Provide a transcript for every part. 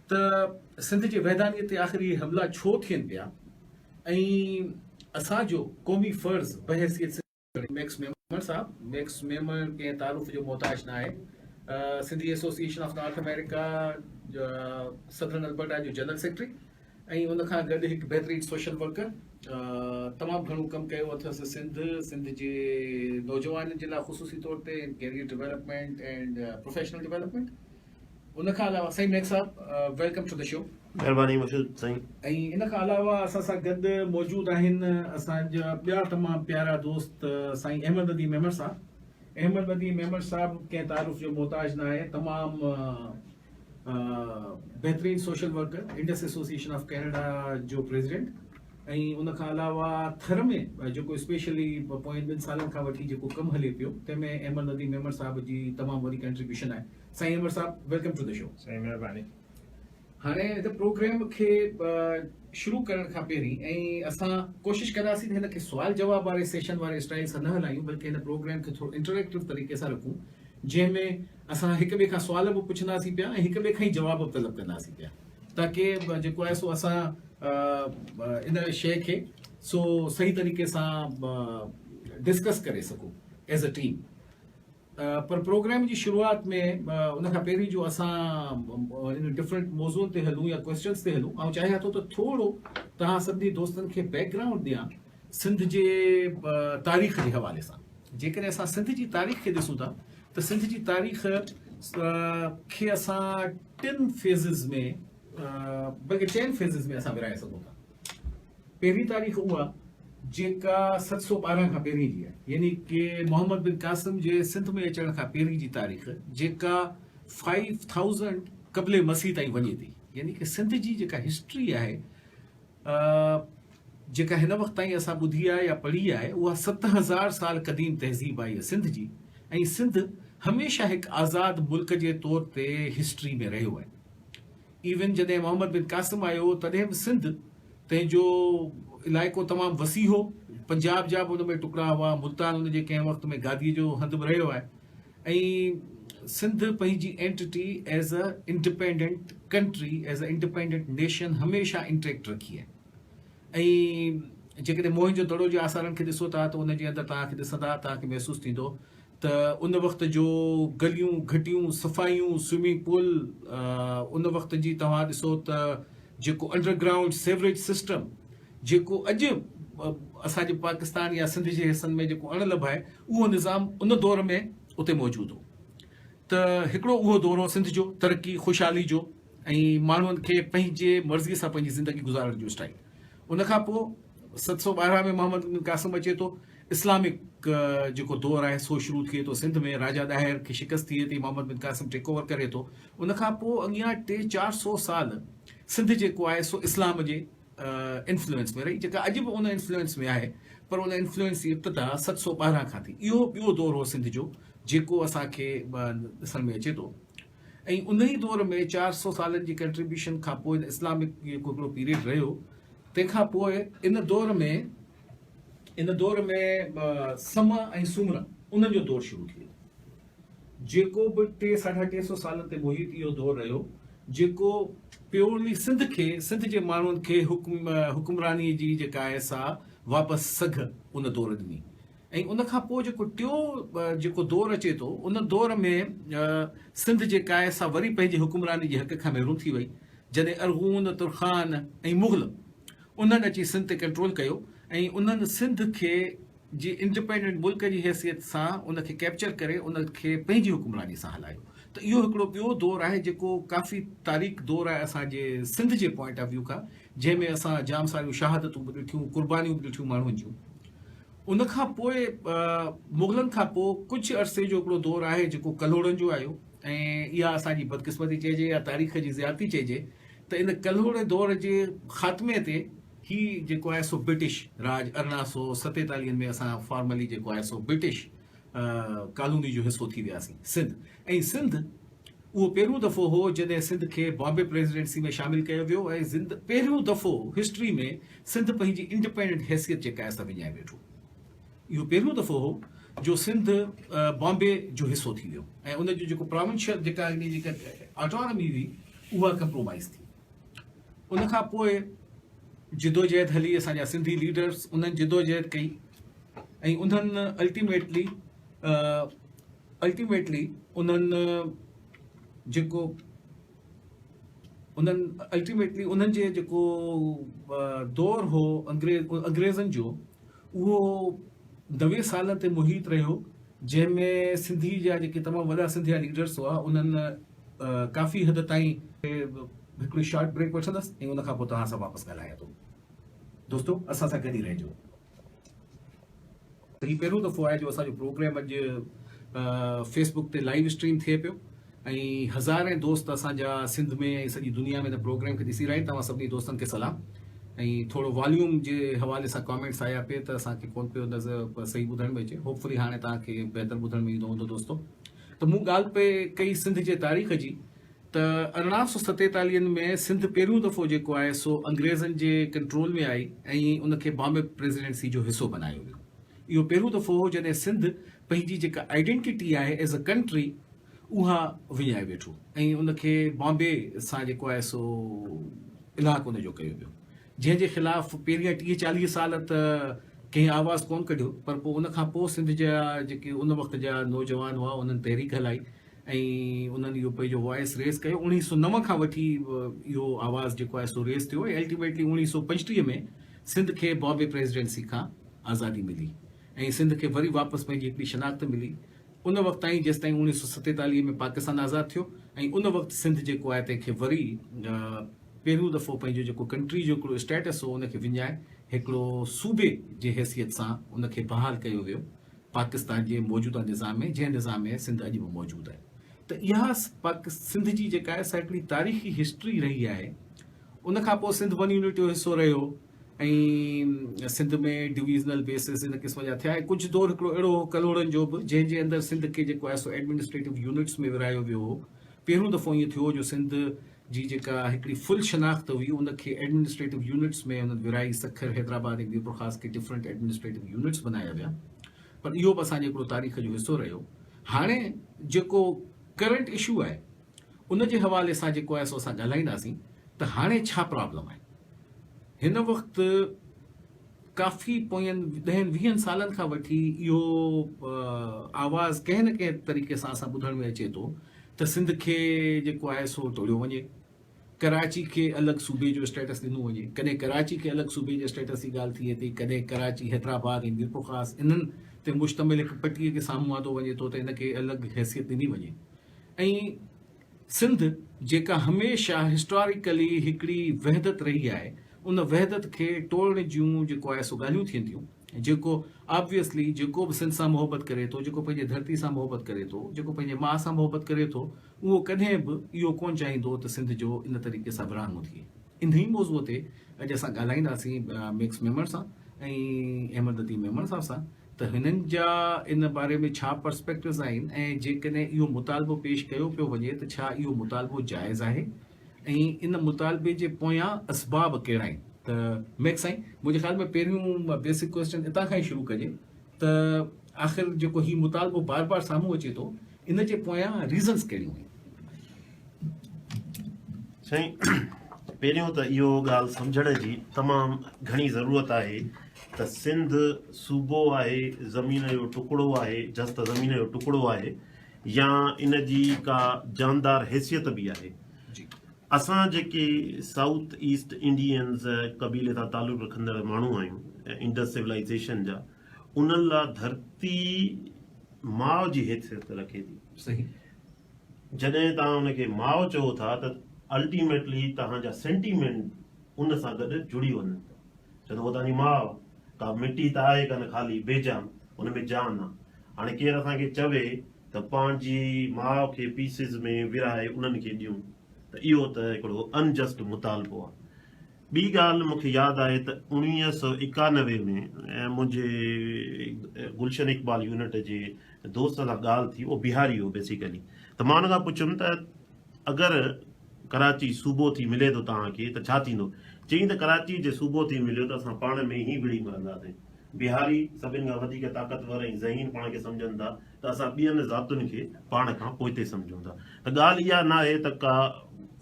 ته سنڌ جي ويڌانيت تي آخر اهي حملا ڇو ٿين پيا ۽ اسان جو قومي فرض بحيثيت سنڌ جي ميڪس ميمڻ صاحب ميڪس ميمڻ ڪنهن تعارف جو محتاج ناهي Sindhi association of North America southern Alberta جو جنرل سيڪريٽري ۽ ان کان گڏ هڪ بهترين سوشل ورڪر تمام گهڻو ڪم ڪيو اٿس سنڌ سنڌ جي نوجوانن جي لاء خصوصي طور تي career development and professional development ان کان علاوه سائين Mir Sahib welcome to the show. مھرباني مشھود سائين. ۽ ان کان علاوه اسان سان گڏ موجود آھن اسان جا ٻيا تمام پيارا دوست سائين احمد نديم ميمڻ صاحب. احمد نديم ميمڻ صاحب ڪنھن تعارف جو محتاج نه آھي تمام بھترين social worker Indus association of Canada جو پريزيڊنٽ ۽ ان کان علاوه ٿر ۾ جيڪو اسپيشلي پوئين ٻن سالن کان وٺي جيڪو ڪم ھلي پيو تنھن ۾ احمد نديم ميمڻ صاحب جي تمام وڏي ڪنٽريبيوشن آھي. سائين Umar Sahib welcome to the show. سائين مھرباني ھاڻي ھن پروگرام کي شروع ڪرڻ کان پھرين ۽ اسان ڪوشش ڪنداسين ته ھن کي سوال جواب واري سيشن واري اسٽائيل سان نه ھلايون بلڪه ھن پروگرام کي ٿورو انٽريڪٽو طريقي سان رکون جنھن ۾ اسان ھڪ ٻئي کان سوال به پڇنداسين پيا ۽ ھڪ ٻئي کان ئي جواب به طلب ڪنداسين پيا تاڪي جيڪو آھي سو اسان ان شيء کي سو صحيح طريقي سان ڊسڪس ڪري سگھون ايز اي ٽيم. پر پروگرام جي شروعات ۾ ان کان پهرين جو اسان ان ڊفرنٽ موضوعن تي هلون يا ڪويسچنس تي هلون آئون چاهيان ٿو ته ٿورو توهان سنڌي دوستن کي بيڪ گرائونڊ ڏيان سنڌ جي تاريخ جي حوالي سان جيڪڏهن اسان سنڌ جي تاريخ کي ڏسون ٿا ته سنڌ جي تاريخ کي اسان ٽن فيزز ۾ بلڪه چئن فيزز ۾ اسان ورهائي سگهون ٿا پهرين تاريخ اها جيڪا ست سؤ ٻارهن کان پهرين جي آهي، يعني ڪي محمد بن قاسم جي سنڌ ۾ اچڻ کان پهرين جي تاريخ جيڪا فائيو ٿائوزنڊ قبل مسيح تائين وڃي ٿي، يعني ڪي سنڌ جي جيڪا هسٽري آهي جيڪا هن وقت تائين اسان ٻڌي آهي يا پڙهي آهي اها ست هزار سال قديم تهذيب آهي سنڌ جي ۽ سنڌ هميشه هڪ آزاد ملڪ جي طور تي هسٽري ۾ رهيو آهي. ايون جڏهن محمد بن قاسم آيو هو تڏهن به سنڌ تنهن جو علائقو تمام وسيع هو پنجاب جا به ان ۾ ٽڪرا هئا ملتان ان جي ڪنهن وقت ۾ گادي جو هنڌ به رهيو آهي ۽ سنڌ پنهنجي entity as a independent country as a independent nation هميشه انٽيڪٽ رکي آهي ۽ جيڪڏهن موهن جو دڙو جي آثارن کي ڏسو ٿا ته ان جي اندر توهان کي ڏسندا توهان کي محسوس ٿيندو ته ان وقت جو گليون، گهٽيون، صفائيون، سوئمنگ پول، ان وقت جي توهان ڏسو ته جيڪو انڊر گرائونڊ سيوريج سسٽم جيڪو اڄ اسان جي پاڪستان يا سنڌ جي حصن ۾ جيڪو اڻ لڀ آهي اهو نظام ان دور ۾ اتي موجود هو ته هڪڙو اهو دور هو سنڌ جو ترقي خوشحالي جو ۽ ماڻهن کي پنهنجي مرضي سان پنهنجي زندگي گذارڻ جو اسٽائل ان کان پوء ست سؤ ٻارهن ۾ محمد بن قاسم اچي ٿو اسلامڪ جيڪو دور آهي سو شروع ٿئي ٿو سنڌ ۾ راجا ڏاهر کي شڪست ٿئي ٿي محمد بن قاسم ٽيڪ اوور ڪري ٿو ان کان پوء اڳيان ٽي چار سو سال سنڌ جيڪو آهي سو اسلام جي انفلوئنس ۾ رهي جيڪا اڄ به ان انفلوئنس ۾ آهي پر ان انفلوئنس جي ابتدا ست سو ٻارهن کان ٿي اهو ٻيو دور هو سنڌ جو جيڪو اسان کي ڏسڻ ۾ اچي ٿو ۽ ان ئي دور ۾ چار سو سالن جي ڪنٽريبيوشن کان پوء اسلامڪ جيڪو هڪڙو پيريڊ رهيو تنهن کان پوء ان دور ۾ ان دور ۾ سمء ۽ سومر انهن جو دور شروع ٿي ويو. جيڪو به ٽي ساڍا ٽي سو سالن تي محيط اهو دور رهيو جيڪو پيوڙوي سنڌ کي سنڌ جي ماڻهن کي حڪمراني جي جيڪا آهي سا واپس سگهه ان دور ڏني ۽ ان کان پوء جيڪو ٽيو جيڪو دور اچي ٿو ان دور ۾ سنڌ جيڪا آهي سا وري پنهنجي حڪمراني جي حق کان محروم ٿي وئي جڏهن ارغون، ترخان ۽ مغل انهن اچي سنڌ تي ڪنٽرول ڪيو ۽ انهن سنڌ کي جي انڊپينڊنٽ ملڪ جي حيثيت سان ان کي ڪيپچر ڪري ان کي پنهنجي حڪمراني سان هلايو ته اهو هڪڙو ٻيو دور آهي جيڪو ڪافي تاريڪ دور آهي اسان جي سنڌ جي پوائنٽ آف ويو کان جنهن ۾ اسان جام ساريون شهادتون به ڏٺيون قربانيون به ڏٺيون ماڻهن جون ان کان پوء مغلن کان پوء ڪجهه عرصي جو هڪڙو دور آهي جيڪو ڪلهوڙن جو آيو ۽ اها اسان جي بدقسمتي چئجي يا تاريخ جي زيادتي چئجي ته ان ڪلهوڙي دور جي خاتمي تي هي جيڪو آهي سو برٽش راڄ ارڙهن سؤ ستيتاليهن ۾ اسان فارملي جيڪو آهي سو برٽش ڪالوني جو حصو ٿي وياسين سنڌ ۽ سنڌ اهو پهريون دفعو هو جڏهن سنڌ کي بامبي پريزيڊنسي ۾ شامل ڪيو ويو ۽ زند پهريون دفعو هسٽري ۾ سنڌ پنهنجي انڊيپينڊنٽ حيثيت جيڪا آهي سا وڃائي ويٺو اهو پهريون دفعو هو جو سنڌ بامبي جو حصو ٿي ويو ۽ ان جو جيڪو پراونشل جيڪا ان جي جيڪا آٽونامي هئي اها ڪمپرومائز ٿي ان کان پوء جدوجهد هلي اسان جا سنڌي ليڊرس انهن جدوجهد ڪئي ۽ انهن الٽيميٽلي الٽيميٽلي انهن جيڪو انهن الٽيميٽلي انهن جي جيڪو دور هو انگريز انگريزن جو اهو نوي سالن تي محيط رهيو جنهن ۾ سنڌي جا جيڪي تمام وڏا سنڌيا ليڊرس هئا انهن ڪافي حد تائين هڪڙي شارٽ بريڪ وٺندس ۽ ان کان پوء توهان سان واپس ڳالهايان ٿو دوستو اسان سان گڏ ئي رهجو هي پهريون دفعو آهي جو اسان جو پروگرام اڄ فيسبوڪ تي لائيو اسٽريم ٿئي پيو ۽ هزارين دوست اسان جا سنڌ ۾ ۽ سڄي دنيا ۾ هن پروگرام کي ڏسي رهيا آهن توهان سڀني دوستن کي سلام ۽ ٿورو واليوم جي حوالي سان ڪامينٽس آيا پي ته اسان کي ڪون پيو نظر صحيح ٻڌڻ ۾ اچي هوپفلي هاڻي توهان کي بهتر ٻڌڻ ۾ ايندو هوندو دوستو ته مون ڳالهه پي ڪئي سنڌ جي تاريخ جي ته ارڙهن سو ستيتاليهن ۾ سنڌ پهريون دفعو جيڪو آهي سو انگريزن جي ڪنٽرول ۾ آئي ۽ ان کي بامبي پريزيڊنسي جو حصو بنايو ويو اهو پهريون دفعو هو جڏهن سنڌ پنهنجي جيڪا آئيڊينٽيٽي آهي ايز اي ڪنٽري اها وڃائي ويٺو ۽ ان کي بامبي سان جيڪو آهي سو الحاق ان جو ڪيو ويو جنهن جي خلاف پهريان ٽيهه چاليهه سال ته ڪنهن آواز ڪون ڪڍيو پر پوء ان کان پوء سنڌ جا جيڪي ان وقت جا نوجوان هئا انهن تحريڪ هلائي ۽ انهن اهو پنهنجو وائس ريز ڪيو اوڻيهه سؤ نو کان وٺي اهو آواز جيڪو آهي سو ريز ٿيو ۽ الٽيميٽلي اوڻيهه سؤ پنجٽيهه ۾ سنڌ کي بامبي پريزيڊنسي کان آزادي ملي ۽ سنڌ کي وري واپس پنهنجي هڪڙي شناخت ملي ان وقت تائين جيستائين اڻويهه سؤ ستيتاليهه ۾ پاڪستان آزاد ٿيو ۽ ان وقت سنڌ جيڪو آهي تنهن کي وري پهريون دفعو پنهنجو جيڪو ڪنٽري جو هڪڙو اسٽيٽس هو ان کي وڃائي هڪڙو صوبي جي حيثيت سان ان کي بحال ڪيو ويو پاڪستان جي موجوده نظام ۾ جنهن نظام ۾ سنڌ اڄ به موجود آهي ته اها سنڌ جي جيڪا آهي سا هڪڙي تاريخي هسٽري رهي آهي ان کان پوء سنڌ ون يونٽ جو حصو رهيو ۽ سنڌ ۾ ڊويزنل بيسز ان قسم جا ٿيا ۽ ڪجهه دور هڪڙو اهڙو هو ڪلهوڙن جو به جنهن جي اندر سنڌ کي جيڪو آهي سو ايڊمنسٽريٽو يونٽس ۾ ورهايو ويو هو پهريون دفعو ائين ٿيو هو جو سنڌ جي جيڪا هڪڙي فل شناخت هئي ان کي ايڊمنسٽريٽو يونٽس ۾ انهن ورهائي سکر حيدرآباد ۽ ميرپور خاص کي ڊفرنٽ ايڊمنسٽريٽو يونٽس بنايا ويا پر اهو به اسان جي هڪڙو تاريخ جو حصو رهيو هاڻي جيڪو ڪرنٽ اشو آهي ان جي حوالي سان جيڪو آهي سو اسان ڳالهائينداسين ته هاڻي ڇا پرابلم آهي هن وقت ڪافي پوين ڏهن ويهن سالن کان وٺي اهو آواز ڪنهن نه ڪنهن طريقي سان اسان ٻڌڻ ۾ اچي ٿو ته سنڌ کي جيڪو آهي سو ٽوڙيو وڃي ڪراچي کي الڳ صوبي جو اسٽيٽس ڏنو وڃي ڪڏهن ڪراچي کي الڳ صوبي جي اسٽيٽس جي ڳالهه ٿئي ٿي ڪڏهن ڪراچي حيدرآباد ۽ ميرپور خاص انهن تي مشتمل هڪ پٽيء کي سامهون آندو وڃي ٿو ته ان کي الڳ حيثيت ڏني وڃي ۽ سنڌ جيڪا هميشه هسٽاريڪلي هڪڙي وحدت رهي آهي ان وحدت کي ٽوڙڻ جون جيڪو آهي سو ڳالهيون ٿين ٿيون جيڪو آبويسلي جيڪو به سنڌ سان محبت ڪري ٿو جيڪو پنهنجي ڌرتي سان محبت ڪري ٿو جيڪو پنهنجي ماء سان محبت ڪري ٿو اهو ڪڏهن به اهو ڪونه چاهيندو ته سنڌ جو ان طريقي سان ورهاڱو ٿئي انهي موضوع تي اڄ اسان ڳالهائينداسين ميڪس ميمڻ سان ۽ احمد لطيف ميمڻ صاحب سان ته هنن جا ان باري ۾ ڇا پرسپيڪٽوز آهن ۽ جيڪڏهن اهو مطالبو پيش ڪيو پيو وڃي ته ڇا اهو مطالبو جائز آهي ۽ ان مطالبي جي پويان اسباب ڪهڙا آهن ته ميڪ سائين منهنجي خيال ۾ پهريون بيسڪ ڪويسچن اتان کان ئي شروع ڪجي ته آخر جيڪو هي مطالبو بار بار سامهون اچي ٿو ان جي پويان ريزنز ڪهڙيون آهن سائين پهريون ته اهو ڳالهه سمجهڻ جي تمام گهڻي ضرورت آهي ته سنڌ صوبو آهي زمين جو ٽڪڙو آهي جس ته زمين جو ٽڪڙو آهي يا ان جي ڪا جاندار حيثيت به آهي جي اسان جيڪي سائوٿ ايسٽ انڊينز قبيلي سان تعلق رکندڙ ماڻهو آهيون انڊس سولائزيشن جا انهن لا ڌرتي ماء جي حيثيت رکي ٿي صحيح جڏهن توهان ان کي ماء چئو ٿا ته الٽيميٽلي توهان جا سينٽيمينٽ ان سان گڏ جڙي وڃن ٿا. ڇو ته هوء توهان جي ماء ڪا مٽي ته آهي ڪانه خالي بي جان، ان ۾ جان آ. هاڻي ڪير اسان کي چوي ته پنهنجي ماء کي پيسز ۾ ورهائي انهن کي ڏيون ته اهو ته هڪڙو ان جسٽ مطالبو آ. ٻي ڳالهه مون کي ياد آهي ته اوڻويهه سؤ ايڪانوي ۾ منهنجي گلشن اقبال يونٽ جي دوست سان ڳالهه ٿي اهو بهاري هو بيسيڪلي ته مان ان کان پڇيم ته اگر ڪراچي صوبو ٿي ملي ٿو توهان کي ته ڇا ٿيندو چيائين ته ڪراچي جي صوبو ٿي مليو ته اسان پاڻ ۾ ئي وڙهي مرنداسين بهاري سڀن کان وڌيڪ طاقتور ۽ ذهين پاڻ کي سمجهن ٿا ته اسان ٻين ذاتن کي پاڻ کان پوئتي سمجهون ٿا ته ڳالهه اها نه آهي ته ڪا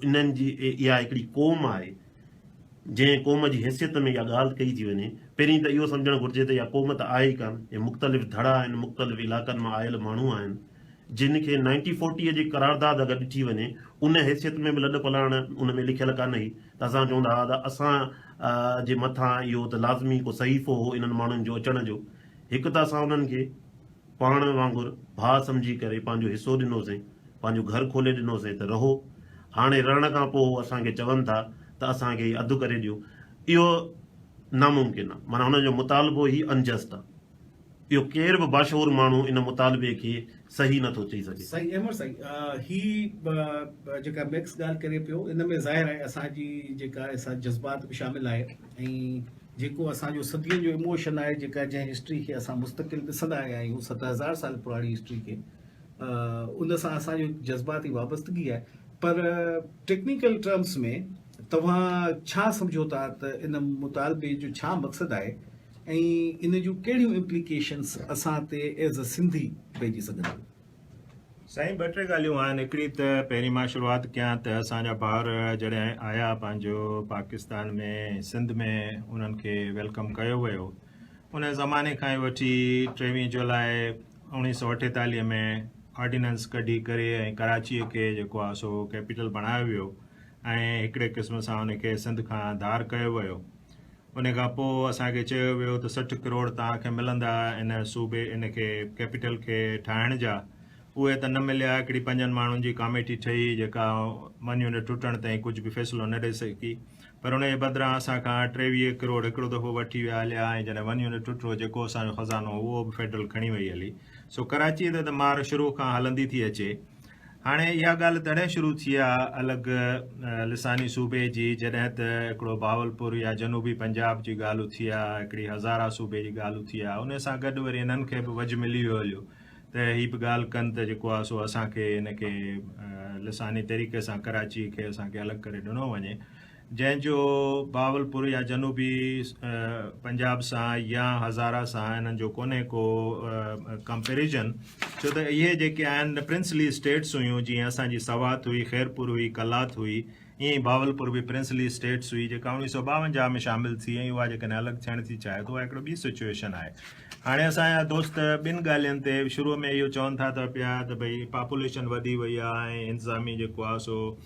انهن جي اها هڪڙي قوم آهي جنهن قوم جي حيثيت ۾ اها ڳالهه ڪئي ٿي وڃي پهرين ته اهو سمجهڻ گهرجي ته اها قوم ته آهي ئي ڪانه هي مختلف ڌڙا آهن مختلف علائقن مان آيل ماڻهو آهن جن کي نائنٽي فورٽيء جي قرارداد اگر ڏٺي وڃي ان حيثيت ۾ به لڏ پلاڻ ان ۾ لکيل ڪانه هئي ته اسان چون ٿا ته اسان جي مٿان اهو ته لازمي ڪو صحيفو هو انهن ماڻهن جو اچڻ جو هڪ ته اسان انهن کي پاڻ وانگر ڀاء سمجهي ڪري پنهنجو حصو ڏنوسين، پنهنجو گهر کولي ڏنوسين ته رهو. هاڻي رهڻ کان پوء هو اسان کي چون ٿا ته اسان کي هي اڌ ڪري ڏيو. اهو ناممڪن آهي. معنيٰ هنن جو مطالبو ئي Unjust آهي. اهو ڪير به باشعور ماڻهو ان مطالبي کي صحيح نه ٿو چئي سگهي. سائين احمد سائين هي جيڪا ميڪس ڳالهه ڪري پيو ان ۾ ظاهر آهي اسان جي جيڪا جذبات به شامل آهي ۽ جيڪو اسان جو صدين جو اموشن آهي جيڪا جنهن هسٽري کي اسان مستقل ڏسندا آيا آهيون ست هزار سال پراڻي هسٽري کي ان سان اسان جو جذباتي وابستگي آهي پر ٽيڪنيڪل ٽرمس ۾ توهان ڇا سمجهو ٿا ته ان مطالبي جو ڇا مقصد آهي ۽ ان جون ڪهڙيون امپليڪيشنس اسان تي ايز اي سنڌي پئجي سگهن ٿيون سائين ٻه ٽي ڳالهيون آهن هڪڙي ته پهرين مان شروعات ڪيان ته اسان جا ڀائر جڏهن آيا پنهنجو پاڪستان ۾ سنڌ ۾ انهن کي ويلڪم ڪيو ويو ان زماني کان ئي وٺي ٽيويهه جولاء اوڻيهه سؤ اٺيتاليهه ۾ آرڊيننس ڪڍي ڪري ۽ ڪراچي کي جيڪو آهي سو ڪيپيٽل بڻايو ويو ۽ هڪڙي قسم سان ان کي سنڌ کان ڌار ڪيو ويو ان کان پوء اسان کي چيو ويو ته سٺ ڪروڙ توهان کي ملندا ان صوبي ان کي ڪيپيٽل کي ٺاهڻ جا اهي ته نه مليا هڪڙي پنجن ماڻهن جي ڪاميٽي ٺهي جيڪا منيون ٽٽڻ تائين ڪجهه به فيصلو نه ڏئي سگهي پر ان جي بدران اسان کان ٽيويهه ڪروڙ هڪڙو دفعو وٺي ويا هليا ۽ جڏهن منيون ٽٽو جيڪو اسان جو خزانو هو اهو به فيڊرل کڻي وئي هلي سو ڪراچي تي ته مار شروع کان هلندي ٿي اچي هاڻي اها ڳالهه تڏهن شروع ٿي آ الڳ لساني صوبي جي جڏهن ته هڪڙو بهاولپور يا جنوبي پنجاب جي ڳالهه اٿي آ هڪڙي هزاره صوبي جي ڳالهه اٿي آ انهي سان گڏ وري انهن کي به وجهه ملي ويو هليو ته هي به ڳالهه ڪن ته جيڪو آ سو اسان کي ان کي لساني طريقي سان ڪراچي کي اسان کي الڳ ڪري ڏنو وڃي جنهن جو بهاولپور يا جنوبي پنجاب سان يا هزاره سان انهن جو ڪونهي ڪو ڪمپيريزن ڇو ته اهي جيڪي آهن پرنسلي اسٽيٽس هيون جيئن اسان جي سوات هئي، خيرپور هئي، قلات هئي ائين ئي بهاولپور به پرنسلي اسٽيٽس هئي جيڪا اوڻيهه سؤ ٻاونجاهه ۾ شامل ٿي ۽ اها جيڪڏهن الڳ ٿيڻ ٿي چاهي ته اها هڪڙو ٻي سچوئيشن آهي. هاڻي اسان جا دوست ٻن ڳالهين تي شروع ۾ اهو چون ٿا ته پيا ته ڀئي پاپوليشن وڌي وئي آهي ۽ انتظامي جيڪو آهي سو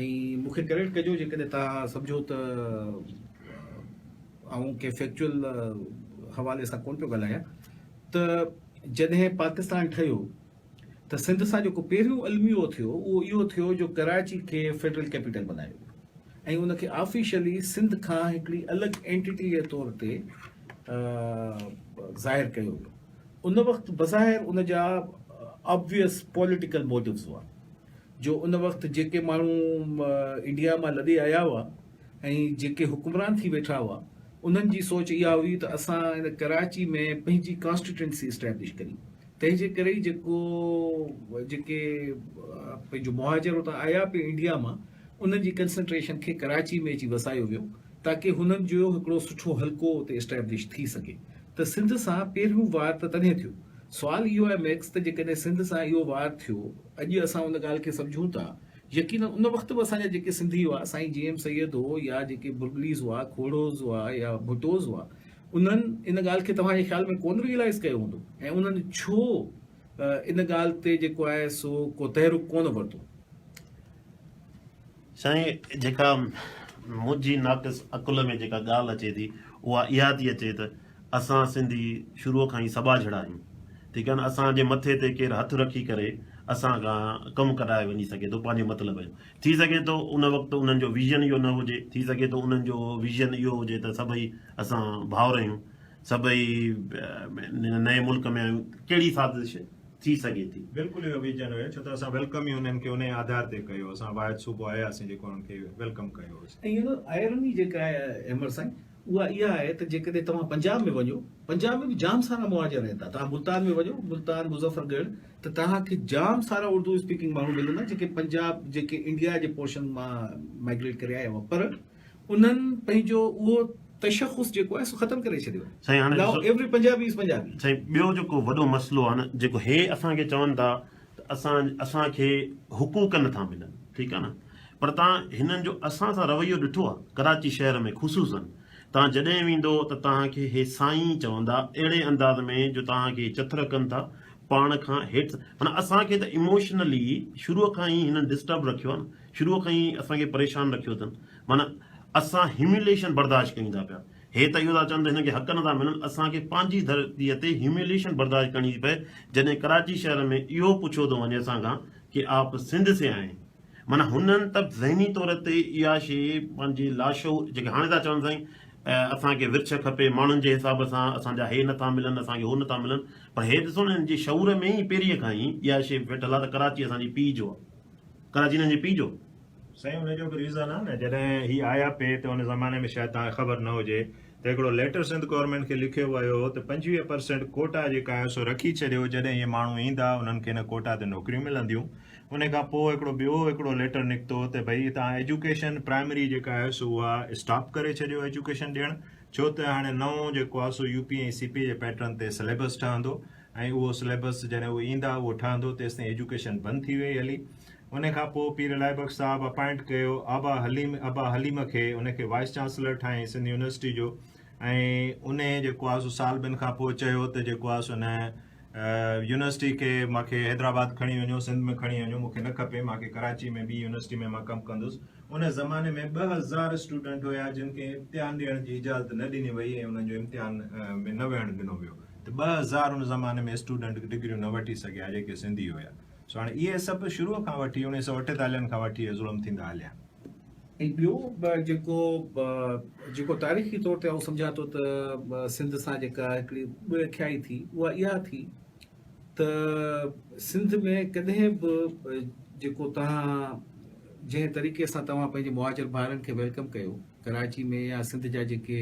۽ مون کي ڪريڊٽ ڪجو جيڪڏهن توهان سمجهو ته آئون ڪنهن فيڪچوئل حوالي سان ڪونه پيو ڳالهايان ته جڏهن پاڪستان ٺهيو ته سنڌ سان جيڪو پهريون الميو ٿيو اهو اهو ٿيو جو ڪراچي کي فيڊرل ڪيپيٽل بنايو ويو ۽ ان کي آفيشلي سنڌ کان هڪڙي الڳ اينٽيٽي جي طور تي ظاهر ڪيو ويو ان وقت بظاهر ان جا آبويس پوليٽيڪل موٽوز هئا جو ان وقت جيڪي ماڻهو انڊيا مان لڏي آيا هئا ۽ جيڪي حڪمران ٿي ويٺا هئا انهن جي سوچ اها هئي ته اسان ان ڪراچي ۾ پنهنجي ڪانسٽيٽوئنسي اسٽيبلش ڪريون تنهن جي ڪري ئي جيڪو جيڪي پنهنجو مهاجر اتان آيا پي انڊيا مان انهن جي ڪنسنٽريشن کي ڪراچي ۾ اچي وسايو ويو تاڪي هنن جو هڪڙو سٺو حلقو اتي اسٽيبلش ٿي سگهي ته سنڌ سان پهريون وار ته تڏهن ٿيو سوال اهو آهي ميڪس ته جيڪڏهن سنڌ سان اهو وار ٿيو، اڄ اسان ان ڳالهه کي سمجهون ٿا، يقينن ان وقت به اسان جا جيڪي سنڌي هئا، سائين جي ايم سيد هو يا جيڪي برگليز هئا، کوڙوز هئا يا ڀٽوز هئا، انهن ان ڳالهه کي توهان جي خيال ۾ ڪونه ريئلائيز ڪيو هوندو ۽ انهن ڇو ان ڳالهه تي جيڪو آهي سو ڪو تحرڪ ڪونه ورتو. سائين جيڪا منهنجي ناقص عقل ۾ جيڪا ڳالهه اچي ٿي اها اها ٿي اچي ته اسان سنڌي شروع کان ئي سٻاجهڙا آهيون ٺيڪ آهي نه اسان جي مٿي تي ڪير هٿ رکي ڪري اسان کان ڪم ڪرائي وڃي سگهي ٿو پنهنجي مطلب جو ٿي سگهي ٿو ان وقت انهن جو ويزن اهو نه هجي ٿي سگهي ٿو انهن جو ويزن اهو هجي ته سڀئي اسان ڀائر آهيون سڀئي نئين ملڪ ۾ آهيون ڪهڙي سازش ٿي سگهي ٿي. بلڪل اهو ويزن هيو ڇو ته اسان ويلڪم ئي انهن کي انهي آڌار تي ڪيو اسان واحد صوبو آهياسين جيڪو انهن کي ويلڪم ڪيو هوس. ۽ آئرني جيڪا آهي احمد سائين اها اها آهي ته جيڪڏهن توهان پنجاب ۾ وڃو پنجاب ۾ به جام سارا مهاجر رهن ٿا توهان ملتان ۾ وڃو ملتان مظفر ڳڙهه ته توهان کي جام سارا اردو اسپيڪنگ ماڻهو ملندا جيڪي پنجاب جيڪي انڊيا جي پورشن مان مائگريٽ ڪري آيا هئا پر انهن پنهنجو اهو تشخص جيڪو آهي سو ختم ڪري ڇڏيو سائين آهي. هاڻي ناء ڏسو. ايوئري پنجابي از پنجابي. سائين ٻيو جيڪو وڏو مسئلو آهي نه جيڪو هي اسان کي چون ٿا ته اسان اسان کي حقوق نٿا ملن ٺيڪ آهي نه پر تان هنن جو اسان سان رويو ڏٺو آهي ڪراچي شهر ۾ خصوصا تان جڏهن ويندو ته تان کي هي سائين چوندا اهڙي انداز ۾ جو تان کي چٿر ڪن ٿا پاڻ کان هيٺ معنيٰ اسان کي ته ايموشنلي شروع کان ئي هنن ڊسٽرب رکيو آهي نه شروع کان ئي اسان کي پريشان رکيو اٿن معنيٰ اسان هيوميليشن برداشت ڪيون ٿا پيا هي ته اهو ٿا چون ته هنن کي حق نه ٿا ملن اسان کي پنهنجي ڌرتي تي هيوميليشن برداشت ڪرڻي ٿي پئي جڏهن ڪراچي شهر ۾ اهو پڇيو ٿو وڃي اسان کان ڪي آپ سنڌ سي آئي معنيٰ هنن ته ذهني طور تي اها شي پنهنجي لاشعور جيڪي هاڻي ٿا چون سائين اسان کي ورڇ کپي ماڻهن جي حساب سان اسان جا هي نٿا ملن اسان کي هو نٿا ملن پر هي ڏسو نه هن جي شعور ۾ ئي پهرينء کان ئي اها شي ويٺل آهي ته ڪراچي اسان جي پيء جو آهي ڪراچي هنن جي پي جو. سائين ان جو به ريزن آ نه جڏهن هي آيا پي ته ان زماني ۾ شايد توهان کي خبر نه هجي ته هڪڙو ليٽر سنڌ گورنمينٽ کي لکيو ويو هو ته پنجويهه پرسينٽ ڪوٽا جيڪا آهي سو رکي ڇڏيو جڏهن هي ماڻهو ايندا انهن کي ان ڪوٽا تي نوڪريون ملنديون انهي کان پوء هڪڙو ٻيو هڪڙو ليٽر نڪتو ته ڀئي توهان ايجوڪيشن پرائمري جيڪا آهي سو اها اسٽاپ ڪري ڇڏيو ايجوڪيشن ڏيڻ ڇو ته هاڻي نئون جيڪو آهي سو يو پي ۽ سي پي جي پيٽرن تي سليبس ٺهندو ۽ اهو سليبس جڏهن اهي ايندا اهو ٺهندو تيستائين ايجوڪيشن بند ٿي وئي هلي ان کان پوء پير الاهي بخش صاحب اپائنٽ ڪيو آبا حليم ابا حليم کي ان کي وائيس چانسلر ٺاهين سنڌ يونيورسٽي جو ۽ ان جيڪو آهي سو سال ٻن کان پوء چيو ته جيڪو آهي سو ان يونيورسٽي کي مونکي حيدرآباد کڻي وڃو سنڌ ۾ کڻي وڃو مونکي نه کپي مونکي ڪراچي ۾ ٻي يونيورسٽي ۾ مان ڪم ڪندس ان زماني ۾ ٻه هزار اسٽوڊنٽ هيا جن کي امتحان ڏيڻ جي اجازت نه ڏني وئي ۽ انهن جو امتحان ۾ نه ويهڻ ڏنو ويو ته ٻه هزار ان زماني ۾ اسٽوڊنٽ ڊگريون نه وٺي سگهيا ها جيڪي سنڌي هيا سو هاڻي اهي سڀ شروع کان وٺي اڻيهه سؤ اٺيتاليهن کان وٺي اهي ظلم ٿيندا هليا آهن. ۽ ٻيو جيڪو جيڪو تاريخي طور تي آئون سمجهان ٿو ته سنڌ سان جيڪا هڪڙي ڏکيائي ٿي اها اها ٿي ته سنڌ ۾ ڪڏهن به جيڪو توهان جنهن طريقي سان توهان پنهنجي مهاجر ڀائرن کي ويلڪم ڪيو ڪراچي ۾ يا سنڌ جا جيڪي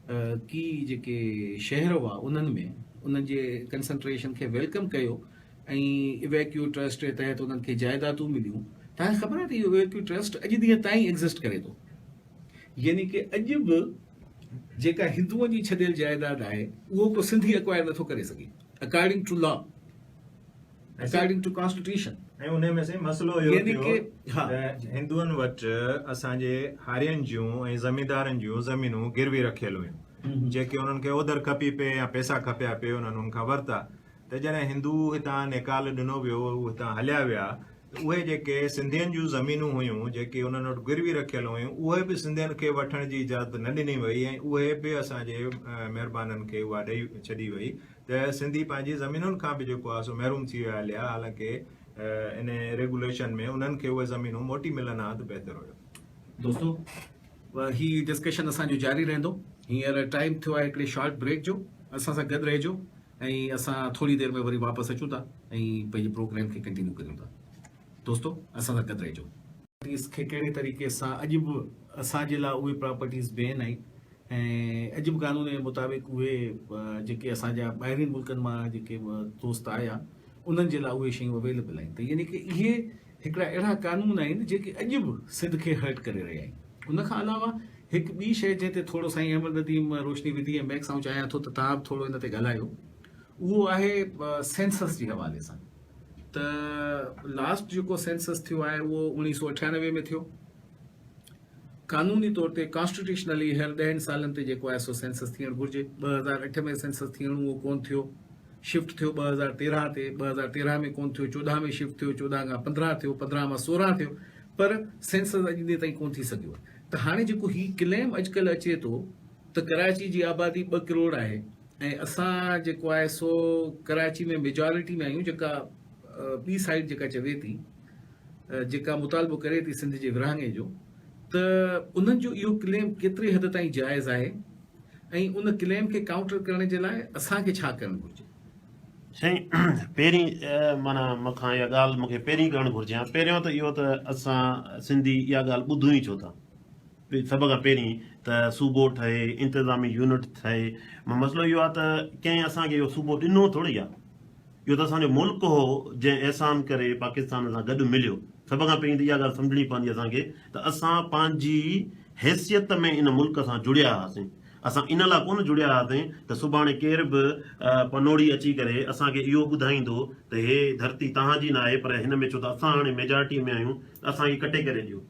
ڪي جيڪي شهر هئا انهن ۾ انهن جي ڪنسنٽريشن کي ويلڪم ڪيو ۽ ايويڪيو ٽرسٽ جي تحت انهن کي جائيدادون مليون تنهن خبر آهي ته اهو ايويڪيو ٽرسٽ اڄ ڏينهن تائين ايگزسٽ ڪري ٿو يعني ڪي اڄ به جيڪا هندوئن جي ڇڏيل جائيداد آهي اهو ڪو سنڌي اڪوائر نٿو ڪري سگهي according to law according to constitution ۽ انهي ۾ سائين مسئلو اهو ٿيو ته هندوئن وٽ اسان جي هارين جون ۽ زميندارن جون زمينون گروي رکيل هيون جيڪي انهن کي اوڌر کپي پئي يا پئسا کپيا پئي انهن ان کان ورتا ته جڏهن هندو هتان نيڪال ڏنو ويو هتان هليا ويا ته اهي جيڪي سنڌين جون زمينون هيون جيڪي انهن وٽ گروي رکيل هيون اهي به سنڌين کي وٺڻ جي اجازت نه ڏني وئي ۽ اهي به اسان جي مهربانن کي اها ڏئي ڇڏي وئي ته سنڌي پنهنجي زمينن کان به جيڪو آهي سو محروم ٿي ويا هليا حالانڪه ان ريگوليشن ۾ انهن کي اهي زمينون موٽي ملن ها ته بهتر هيو. دوستو هي ڊسڪشن اسان جو جاري رهندو هينئر ٽائيم ٿيو آهي هڪڙي شارٽ بريڪ جو اسان سان گڏ رهجو ۽ اسان ٿوري دير ۾ وري واپس اچون ٿا ۽ پنهنجي پروگرام کي ڪنٽينيو ڪريون ٿا دوستو اسان سان گڏ رهجو. پراپرٽيز کي ڪهڙي طريقي سان اڄ به اسان جي لاء اهي پراپرٽيز بين آهن ۽ اڄ به قانون جي مطابق اهي جيڪي اسان جا ٻاهرين ملڪن مان جيڪي دوست آيا انهن جي لاء اهي شيون اويليبل آهن ته يعني ڪي اهي هڪڙا اهڙا قانون آهن جيڪي اڄ به سنڌ کي هرٽ ڪري رهيا آهن ان کان علاوه هڪ ٻي شيء جنهن تي ٿورو سائين احمد نديم روشني وڌي ۽ ميڪ سان چاهيان ٿو ته توهان به ٿورو ان تي ڳالهايو اهو آهي سينسس جي حوالي سان ته لاسٽ جيڪو سينسس ٿيو آهي اهو اوڻيهه سو اٺيانوي ۾ ٿيو قانوني طور تي ڪانسٽيٽيوشنلي هر ڏهن سالن تي جيڪو آهي سو سينسس ٿيڻ گهرجي ٻه هزار اٺ ۾ سينسس ٿيڻو اهو ڪون ٿيو شفٽ ٿيو ٻه هزار تيرهن تي ٻه هزار تيرهن ۾ ڪون ٿيو چوڏهن ۾ شفٽ ٿيو چوڏهن کان پندرهن ٿيو پندرهن مان سورهن ٿيو پر سينسس اڄ ڏينهن تائين ڪون ٿي سگهيو ته هاڻي جيڪو هي ڪليم اڄڪلهه اچي ٿو ته ڪراچي جي آبادي ٻه ڪروڙ آهي ۽ اسان جيڪو آهي سو ڪراچي ۾ ميجارٽي ۾ آهيون جيڪا ٻي سائيڊ جيڪا چوي ٿي جيڪا مطالبو ڪري ٿي سنڌ جي ورهاڱي جو ته انهن جو اهو ڪليم ڪيتري حد تائين جائز آهي ۽ ان ڪليم کي ڪاؤنٽر ڪرڻ جي لاء اسان کي ڇا ڪرڻ گهرجي سائين پهرين مانا مکان اها ڳالهه مونکي پهرين ڪرڻ گهرجي ها پهريون ته اهو ته اسان سنڌي اها ڳالهه ٻڌون ئي ڇو ٿا سڀ کان پهرين ته صوبو ٺهي، انتظامي يونٽ ٺهي، مسئلو اهو آهي ته ڪنهن اسان کي اهو صوبو ڏنو ٿورڙي آهي، اهو ته اسان جو ملڪ هو جنهن احسان ڪري پاڪستان سان گڏ مليو، سڀ کان پهرين ته اها ڳالهه سمجهڻي پوندي اسان کي ته اسان پنهنجي حيثيت ۾ ان ملڪ سان جڙيا هئاسين، اسان ان لاء ڪونه جڙيا هئاسين ته سڀاڻي ڪير به پنوڙي اچي ڪري اسان کي اهو ٻڌائيندو ته هي ڌرتي توهان جي ناهي پر هن ۾ ڇو ته اسان هاڻي ميجارٽي ۾ آهيون ته اسان کي ڪٽي ڪري ڏيو.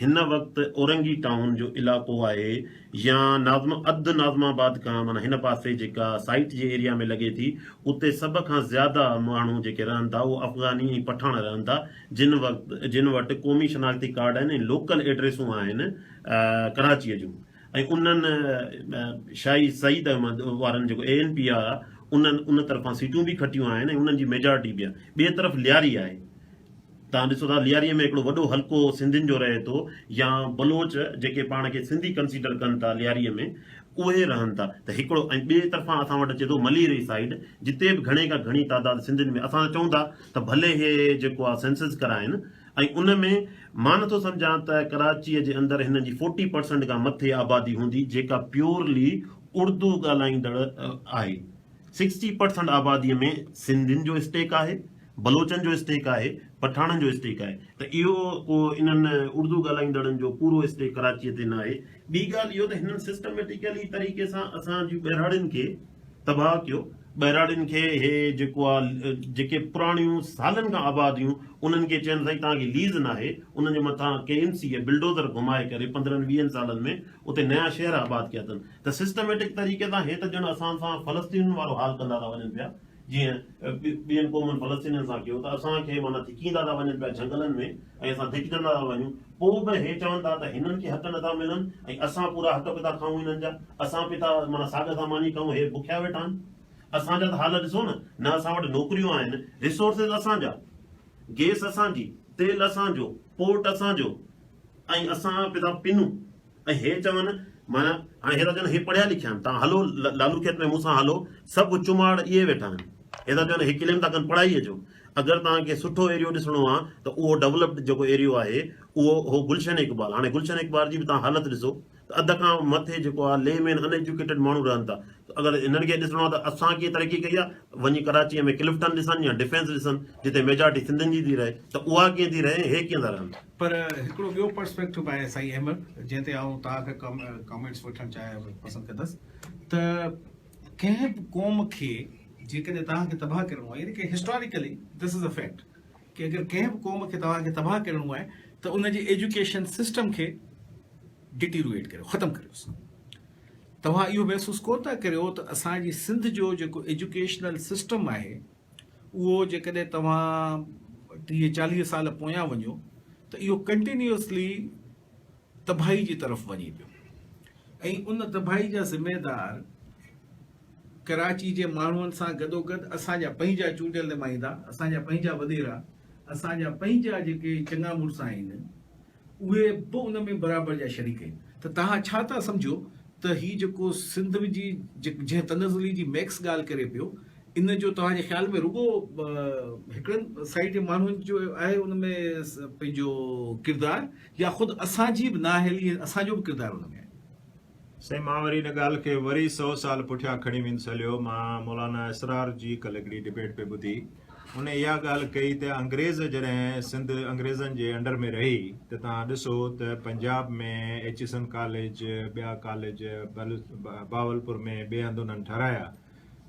هن وقت اورنگي ٽائون جو علائقو آهي يا ناظم اڌ ناظم آباد کان معنيٰ هن پاسي جيڪا سائيٽ جي ايريا ۾ لڳي ٿي اتي سڀ کان زياده ماڻهو جيڪي رهن ٿا اهو افغاني ۽ پٺاڻ رهن ٿا جن وقت جن وٽ قومي شناختي ڪارڊ آهن ۽ لوڪل ايڊريسون آهن ڪراچيء جون ۽ انهن شاهي سعيد احمد وارن جيڪو اي اين پي آر آهي انهن ان طرفان سيٽون به کٽيون آهن ۽ انهن جي ميجارٽي به آهي ٻئي طرف لياري آهي. توهان ڏسو ٿا لياريء ۾ هڪڙو وڏو حلقو سنڌين جو رهي ٿو يا بلوچ جيڪي پاڻ کي سنڌي ڪنسيڊر ڪن ٿا لياريء ۾ اهي رهن ٿا ته هڪڙو ۽ ٻئي طرفان اسان وٽ اچي ٿو مليري سائيڊ جتي به گهڻي کان گهڻي تعداد سنڌين ۾ اسان ته چئون ٿا ته ڀلي هي جيڪو آ سينسز ڪرائين ۽ ان ۾ مان نٿو سمجهان ته ڪراچيء جي اندر هنن جي فورٽي پرسنٽ کان مٿي آبادي هوندي جيڪا پيورلي اڙدو ڳالهائيندڙ آهي سڪسٽي پرسنٽ آباديء ۾ سنڌين جو اسٽيڪ آهي. بلوچن جو اسٽيڪ آهي، پٺاڻن جو اسٽيڪ آهي ته اهو ڪو انهن اردو ڳالهائيندڙن جو پورو اسٽيڪ ڪراچيء تي ناهي. ٻي ڳالهه اهو ته هنن سسٽميٽيڪلي طريقي سان اسان جي ٻهراڙين کي تباهه ڪيو. ٻهراڙين کي هي جيڪو آ جيڪي پراڻيون سالن کان آباديون انهن کي چين سائين توهان کي ليز ناهي انهن جي مٿان ڪي ايم سيء بلڊوزر گهمائي ڪري پندرهن ويهن سالن ۾ اتي نيا شهر آباد ڪيا اٿن ته سسٽميٽڪ طريقي سان هي ته ڄڻ اسان سان فلسطينين وارو حال ڪندا ٿا وڃن پيا جيئن ٻين قومن فلسطينين سان ڪيو ته اسان کي معنيٰ ڌڪيندا ٿا وڃن پيا جهنگلن ۾ ۽ اسان ڌڪجندا ٿا وڃون پوء به هي چون ٿا ته هنن کي حق نٿا ملن ۽ اسان پورا حق به ٿا کائون هنن جا اسان به ٿا معنيٰ ساڳ ٿا ماني کائون هي بکيا ويٺا آهن اسان جا ته حال ڏسو نه نه اسان وٽ نوڪريون آهن ريسورسز اسان جا گيس اسان جي تيل اسان جو پورٽ اسان جو ۽ اسان به ٿا پنون. ۽ هي چون، معنيٰ، هاڻي هي ٿا چون هي پڙهيا لکيا آهن، توهان هلو لالو کيت ۾ مون سان هلو، سڀ چماڙ ائين ويٺا آهن. هي ٿا چون هي ڪليم ٿا ڪن پڙهائيء جو. اگر توهان کي سٺو ايريو ڏسڻو آهي ته اهو ڊولپڊ جيڪو ايريو آهي اهو هو گلشن اقبال. هاڻي گلشن اقبال جي به توهان حالت ڏسو ته اڌ کان مٿي جيڪو آهي لي مين ان ايجوڪيٽيڊ ماڻهو رهن ٿا ته اگر هنن کي ڏسڻو آهي ته اسان ڪيئن ترقي ڪئي آهي ته وڃي ڪراچيء ۾ ڪلفٽن ڏسن يا ڊفينس ڏسن جتي ميجارٽي سنڌين جي ٿي رهي ته اها ڪيئن ٿي رهي ۽ هي ڪيئن ٿا رهن. پر هڪڙو ٻيو پرسپيڪٽو به آهي سائين احمد جنهن تي آئون توهان کي ڪامينٽس وٺڻ چاهيان پسند ڪندس ته ڪنهن به قوم کي جيڪڏهن توهان کي تباهه ڪرڻو آهي يعني ڪي هسٽاريڪلي دس از ا فيڪٽ ڪي اگر ڪنهن به قوم کي توهان کي تباهه ڪرڻو آهي ته ان جي ايجوڪيشن سسٽم کي ڊيٽيرويٽ ڪريو ختم ڪريوس توهان اهو محسوس ڪو ٿا ڪريو ته اسان جي سنڌ جو جيڪو ايجوڪيشنل سسٽم آهي اهو جيڪڏهن توهان ٽيهه چاليهه سال پويان وڃو ته اهو ڪنٽينيوسلي تباهي جي طرف وڃي پيو ۽ ان تباهي جا ذميدار ڪراچي جي ماڻهن سان گڏوگڏ اسان جا پنهنجا چونڊيل نمائندا اسان جا پنهنجا وڏيرا اسان جا پنهنجا جيڪي چڱا مڙس آهن اهي به ان ۾ برابر جا شريڪ آهن ته توهان ڇا ٿا سمجهو ته هي جيڪو سنڌ جي جنهن تنزلي جي ميڪس ڳالهه ڪري پيو ان جو توهان جي خيال ۾ رڳو هڪڙن سائيڊ جي ماڻهن جو آهي ان ۾ پنهنجو ڪردار يا خود اسان جي به نااهلي اسان جو به ڪردار ان ۾ آهي سائين مان وري ان ڳالهه کي وري سئو سال پٺيان کڻي ويندس هليو مان مولانا اسرار جي ڪل هڪڙي ڊبيٽ پئي ٻڌي ان اها ڳالهه ڪئي ته انگريز جڏهن سنڌ انگريزن جي انڊر ۾ رهي ته توهان ڏسو ته پنجاب ۾ ايچيسن ڪاليج ٻيا ڪاليج بهاولپور ۾ ٻئي هنڌ انهن ٺهرايا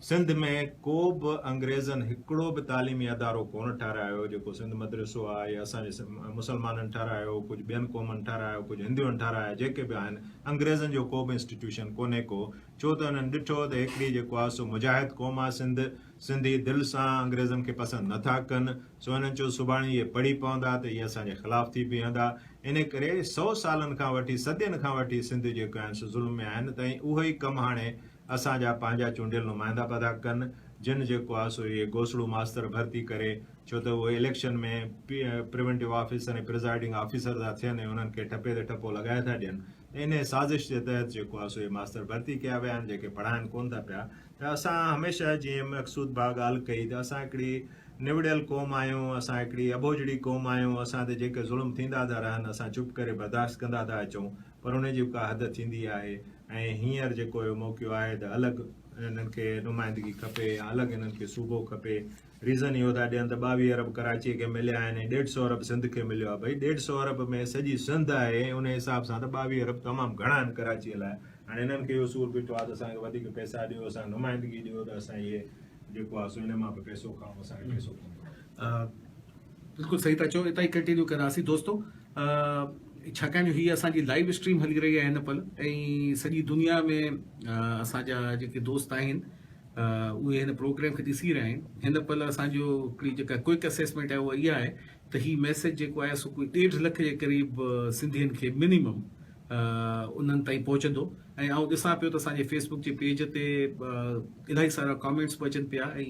سنڌ ۾ ڪو به انگريزن هڪڙو به تعليمي ادارو ڪونه ٺهرايو جيڪو سنڌ مدرسو آ يا اسان جي مسلمانن ٺهرايو ڪجهه ٻين قومن ٺهرايو ڪجهه هندوئن ٺهرايا جيڪي به آهن انگريزن جو ڪو به انسٽيٽيوشن ڪونهي ڪو ڇو ته انهن ڏٺو ته هڪڙي جيڪو آ سو مجاهد قوم آ سنڌ سنڌي دل سان انگريزن کي پسند نٿا ڪن سو انهن چو سڀاڻي اهي پڙهي پوندا ته اهي اسان جي خلاف ٿي بيهندا ان ڪري سو سالن کان وٺي صدين کان وٺي سنڌ جيڪو آهن سو ظلم ۾ آهن ته اهي ئي ڪم هاڻي اسان جا پنهنجا چونڊيل نمائندا پدا ڪن جن جيڪو آ سو اهي گوسڙو ماستر ڀرتي ڪري ڇو ته اهي election ۾ preventive officer ۽ presiding officer ٿا ٿين ۽ انهن کي ٺپي تي ٺپو لڳائي ٿا ڏين ته انهي سازش جي تحت جيڪو آ سو اهي ماستر ڀرتي ڪيا ويا آهن جيڪي پڙهائن ڪون ٿا پيا ته اسان هميشه جيئن مقصود ڀا ڳالهه ڪئي ته اسان هڪڙي نوڙيل قوم آهيون اسان هڪڙي اٻوجهڙي قوم آهيون اسان تي جيڪي ظلم ٿيندا ٿا رهن اسان چپ ڪري برداشت ڪندا ٿا اچون پر ان جي به ڪا حد ٿيندي آهي ۽ هينئر جيڪو اهو موقعو آهي ته الڳ انهن کي نمائندگي کپي يا الڳ انهن کي صوبو کپي ريزن اهو ٿا ڏين ته ٻاويهه ارب ڪراچيء کي مليا آهن ۽ ڏيڍ سؤ ارب سنڌ کي مليو آهي ڀئي ڏيڍ سؤ ارب ۾ سڄي سنڌ آهي ۽ ان حساب سان ته ٻاويهه ارب تمام گهڻا آهن ڪراچيء لاء هاڻي انهن کي اهو سور بيٺو آهي ته اسان کي وڌيڪ پئسا ڏيو اسان کي نمائندگي ڏيو ته اسان اهي جيڪو آهي سو ان مان به پئسو کائون اسان کي پئسو پوندو بلڪل صحيح ٿا چئو اتان ئي ڪنٽينيو ڪنداسين دوستو ڇاڪاڻ جو هي اسان جي لائيو اسٽريم هلي رهي آهي هن پل ۽ سڄي دنيا ۾ اسان جا جيڪي دوست آهن اهي هن پروگرام کي ڏسي رهيا آهن هن پل اسان جو هڪڙي جيڪا ڪوئڪ اسيسمينٽ آهي اها اها آهي ته هي ميسج جيڪو آهي سو ڪوئي ڏيڍ لک جي قريب سنڌين کي منيمم انهن تائين پهچندو ۽ آئون ڏسان پيو ته اسان جي فيس بڪ جي پيج تي الاهي سارا ڪامينٽس به اچن پيا ۽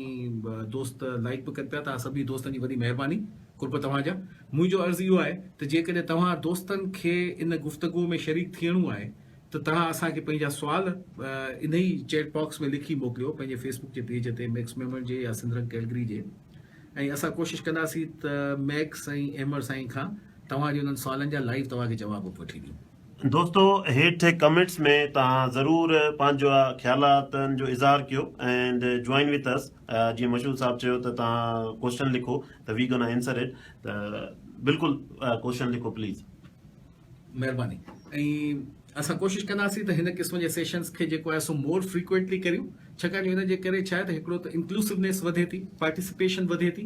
دوست لائيڪ به ڪن پيا ته سڀني دوستن جي وڏي مهرباني قرب توهان جا منهنجو عرض اهو آهي ته جيڪڏهن توهان دوستن کي ان گفتگو ۾ شريڪ ٿيڻو آهي ته توهان اسان کي پنهنجا سوال انهي چيٽ باڪس ۾ لکي موڪليو پنهنجي فيس بڪ جي پيج تي ميڪس ميمر جي يا سندرنگ ڪيلگري جي ۽ اسان ڪوشش ڪنداسين ته ميڪس ۽ ايمر سائين کان توهان جي انهن سوالن جا لائيو توهان کي جواب به وٺي ڏيون. دوستو هيٺ ڪمينٽس ۾ توهان ضرور پنهنجا خيالاتن جو اظهار ڪيو اينڊ جوائن وٿ اس جيئن مشهود صاحب چيو ته توهان ڪوشچن لکو ته وي گنا اينسر اٽ ته بلڪل ڪوشچن لکو پليز. مهرباني ۽ اسان ڪوشش ڪنداسين ته هن قسم جي سيشنز کي جيڪو آهي سو مور فريڪوئنٽلي ڪريون ڇاڪاڻ جو ان جي ڪري ڇا آهي ته هڪڙو ته انڪلوسونيس وڌي ٿي پارٽيسپيشن وڌي ٿي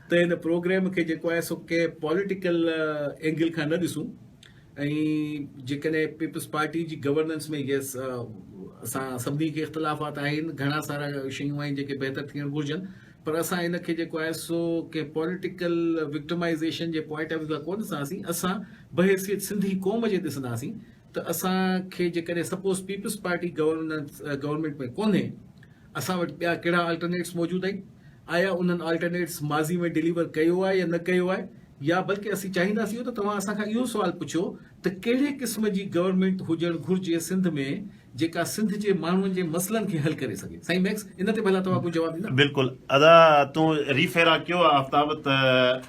ته هن پروگرام کي جيڪو آهي سو ڪنهن پوليٽيڪل اينگل کان نه ڏسون ۽ جيڪڏهن پيپلز پارٽي جي گورننس ۾ يس اسان سڀني کي اختلافات آهن گهڻا سارا شيون آهن جيڪي بهتر ٿيڻ گهرجن پر اسان ان کي جيڪو آهي سو ڪنهن پوليٽيڪل وڪٽمائيزيشن جي پوائنٽ آف ويو کان ڪون ڏسنداسين اسان بحيثيت سنڌي قوم جي ڏسنداسين ته اسان کي جيڪڏهن suppose Peoples Party governance government ۾ ڪونهي اسان وٽ ٻيا ڪهڙا آلٽرنيٽس موجود آهن؟ آيا انهن آلٽرنيٽس ماضي ۾ ڊليور ڪيو آهي يا نه ڪيو آهي؟ يا بلڪه اسين چاهينداسين ته توهان اسان کان اهو سوال پڇو ته ڪهڙي قسم جي گورنمينٽ هجڻ گهرجي سنڌ ۾ جيڪا سنڌ جي ماڻهن جي مسئلن کي حل ڪري سگهي؟ سائين ميڪس ان تي ڀلا توهان ڪو جواب ڏيندا؟ بلڪل ادا تون ري فيرا ڪيو آفتاب ته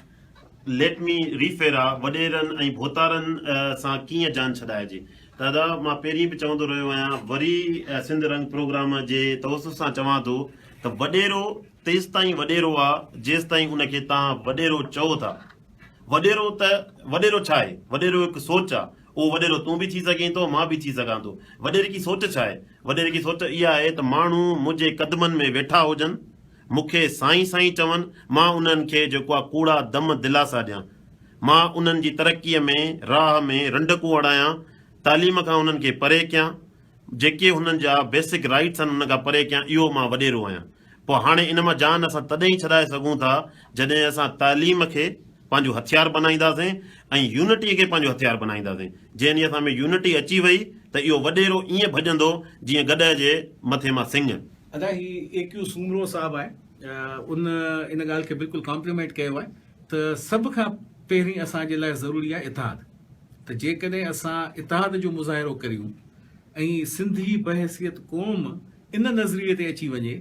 ليٽ مي ريفيرا وڏيرن ۽ ڀوتارن سان ڪيئن جان ڇڏائجي. دادا مان پهرين به چوندو رهيو آهيان وري سنڌ رنگ پروگرام جي توسط سان چوان ٿو ته وڏيرو تيستائين وڏيرو آ جيستائين ان کي تان وڏيرو چئو ٿا وڏيرو ته وڏيرو ڇا آهي وڏيرو هڪ سوچ آ اهو وڏيرو تون به ٿي سگهين ٿو مان به ٿي سگهان ٿو وڏيرڪي سوچ ڇا آهي وڏيرڪي سوچ اها آهي ته ماڻهو منهنجي قدمن ۾ ويٺا هجن مون کي سائين سائين چون، مان انهن کي جيڪوا ڪوڙا دم دلاسا ڏيان. مان انهن جي ترقيء ۾ راهه ۾ رنڊڪون اڙايان، تعليم کان انهن کي پري ڪيان، جيڪي هنن جا بيسڪ رائيٽس آهن ان کان پري ڪيان اهو مان وڏيرو آهيان. پوء هاڻي ان مان جان اسان تڏهن ئي ڇڏائي سگهون ٿا جڏهن اسان تعليم کي پنهنجو هٿيار بنائينداسين ۽ يونٽي کي پنهنجو هٿيار بنائينداسين. جي انهيء اسان ۾ يونٽي اچي وئي ته اهو وڏيرو ائين ڀڄندو جيئن گڏهه جي مٿي مان سنڱ. ادا هي اي ڪيو سومرو صاحب آهي ان ان ڳالهه کي بلڪل ڪامپليمينٽ ڪيو آهي ته سڀ کان پهرين اسان جي لاء ضروري آهي اتحاد ته جيڪڏهن اسان اتحاد جو مظاهرو ڪريون ۽ سنڌ جي بحيثيت قوم ان نظريي تي اچي وڃي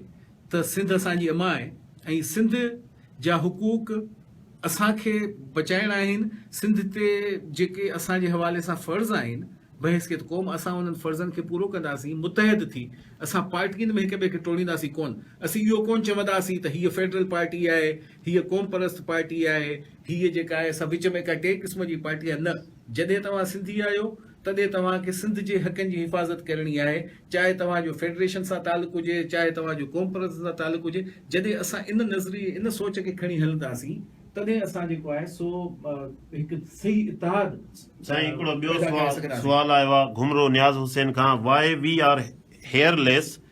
ته سنڌ اسان جي اما آهي ۽ سنڌ جا حقوق اسان کي بچائڻ آهن، سنڌ تي جيڪي اسان جي حوالي سان فرض آهن بحيثيت قوم اسان انهن فرضن کي پورو ڪنداسين متحد ٿي، اسان پارٽين ۾ هڪ ٻئي کي ٽوڙينداسين ڪونه، اسين اهو ڪونه چونداسين ته هيء فيڊرل پارٽي آهي، هيء قومپرست پارٽي آهي، هيء جيڪا آهي سا وچ ۾ ڪا ٽئين قسم جي پارٽي آهي نه جڏهن توهان سنڌي آهيو تڏهن توهان کي سنڌ جي حقن جي حفاظت ڪرڻي آهي، چاهي توهان جو فيڊريشن سان تعلق هجي، چاهي توهان جو قومپرستن سان تعلق هجي، جڏهن اسان ان نظريي، ان سوچ کي کڻي هلنداسين، تڏهن اسان جيڪو آهي سو هڪ صحيح اتحاد سائين هڪڙو ٻيو سوال آيو آهي گهمرو نياز حسين کان why we are here less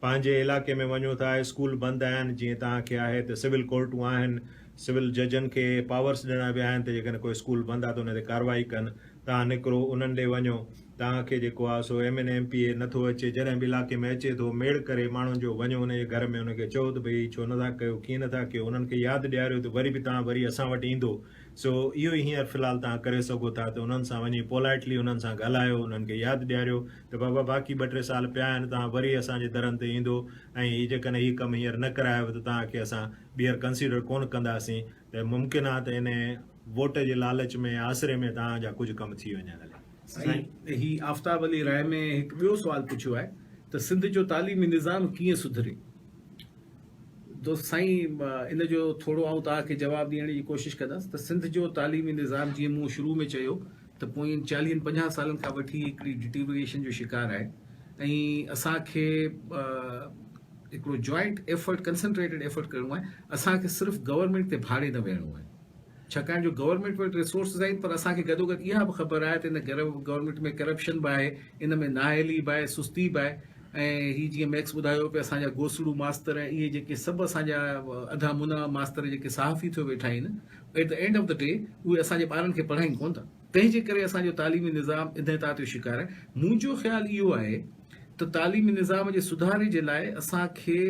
پنهنجي علائقي ۾ وڃو ٿا اسڪول بند آهن جيئن توهان کي آهي ته سول ڪورٽون آهن سول ججن کي پاورس ڏنا ويا آهن ته جيڪڏهن ڪو اسڪول بند آهي ته ان تي ڪارروائي ڪن توهان نڪرو انهن ڏي وڃو توهان کي جيڪو آهي سو M N M P A نٿو اچي جڏهن به علائقي ۾ اچي ٿو ميڙ ڪري ماڻهن جو وڃو ان جي گهر ۾ ان کي چئو ته ڀئي هي ڇو نٿا ڪيو ڪيئن نٿا ڪيو انهن کي ياد ڏياريو ته وري به توهان وري اسان وٽ ايندو سو اهو ئي هينئر في الحال توهان ڪري سگهو ٿا ته انهن سان وڃي پولائٽلي انهن سان ڳالهايو، انهن کي ياد ڏياريو ته بابا باقي ٻه ٽي سال پيا آهن، توهان وري اسان جي درن تي ايندو ۽ هي جيڪڏهن هي ڪم هينئر نه ڪرايو ته توهان کي اسان ٻيهر ڪنسيڊر ڪونه ڪنداسين ته ممڪن آهي ته ان ووٽ جي لالچ ۾ يا آسري ۾ توهان جا ڪجهه ڪم ٿي وڃن. هلي. سائين هي آفتاب علي راء ۾ هڪ ٻيو سوال پڇيو آهي ته سنڌ جو تعليمي نظام ڪيئن سڌري؟ دوست سائين ان جو ٿورو آئون توهان کي جواب ڏيڻ جي ڪوشش ڪندس ته سنڌ جو تعليمي نظام جيئن مون شروع ۾ چيو ته پوئين چاليهن پنجاهن سالن کان وٺي هڪڙي ڊٽيوريشن جو شڪار آهي ۽ اسان کي هڪڙو جوائنٽ ايفرٽ ڪنسنٽريٽيڊ ايفرٽ ڪرڻو آهي اسان کي صرف گورنمينٽ تي ڀاڙي نه ويهڻو آهي ڇاڪاڻ جو گورنمينٽ وٽ ريسورسز آهن پر اسان کي گڏوگڏ اها به خبر آهي ته ان گورنمينٽ ۾ ڪرپشن به آهي ان ۾ نااهلي به آهي سستي به آهي ۽ هي جيئن ميڪس ٻڌايو پي اسان جا گوسڙو ماستر ۽ اهي جيڪي سڀ اسان جا اڌا منا ماستر جيڪي صحافي ٿيو ويٺا آهن at the end of the day اهي اسان جي ٻارن کي پڙهائين ڪون ٿا تنهن جي ڪري اسان جو تعليمي نظام انهيتا جو شڪار آهي منهنجو خيال اهو آهي ته تعليمي نظام جي سڌاري جي لاء اسان کي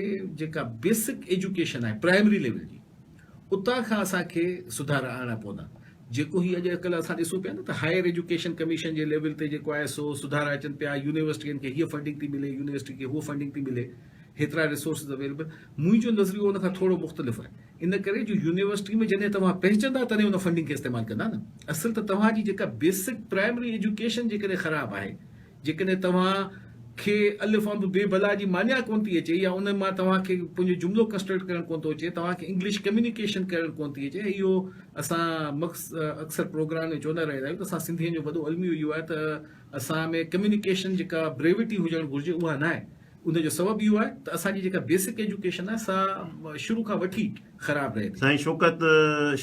جيڪا بيسڪ ايجوڪيشن آهي پرائمري ليول جي اتان کان اسان کي سڌارا آڻڻا پوندا جيڪو هي اڄ ڪلهه اسان ڏسون پيا نه ته هائير ايجوڪيشن ڪميشن جي ليول تي جيڪو آهي سو سڌارا اچن پيا يونيورسٽين کي هيء فنڊنگ ٿي ملي يونيورسٽي کي هوء فنڊنگ ٿي ملي هيترا ريسورسز اويليبل منهنجو نظريو ان کان ٿورو مختلف آهي ان ڪري جو يونيورسٽي ۾ جڏهن توهان پهچندا تڏهن ان فنڊنگ کي استعمال ڪندا نه اصل ته توهان جي جيڪا بيسڪ پرائمري ايجوڪيشن جيڪڏهن خراب آهي جيڪڏهن توهان کي الف انب بي بلا جي معنيٰ ڪونه ٿي اچي يا ان مان توهان کي پنهنجو جملو ڪنسٽرڪٽ ڪرڻ ڪونه ٿو اچي، توهان کي انگلش ڪميونيڪيشن ڪرڻ ڪونه ٿي اچي ۽ اهو اسان مڪس اڪثر پروگرام ۾ چوندا رهندا آهيون ته اسان سنڌين جو وڏو الميو اهو آهي ته اسان ۾ ڪميونيڪيشن جيڪا بريوٽي هجڻ گهرجي اها ناهي. ان جو سبب اهو آهي ته اسان جي جيڪا بيسڪ ايجوڪيشن آهي سا شروع کان وٺي خراب رهي ٿي. سائين شوڪت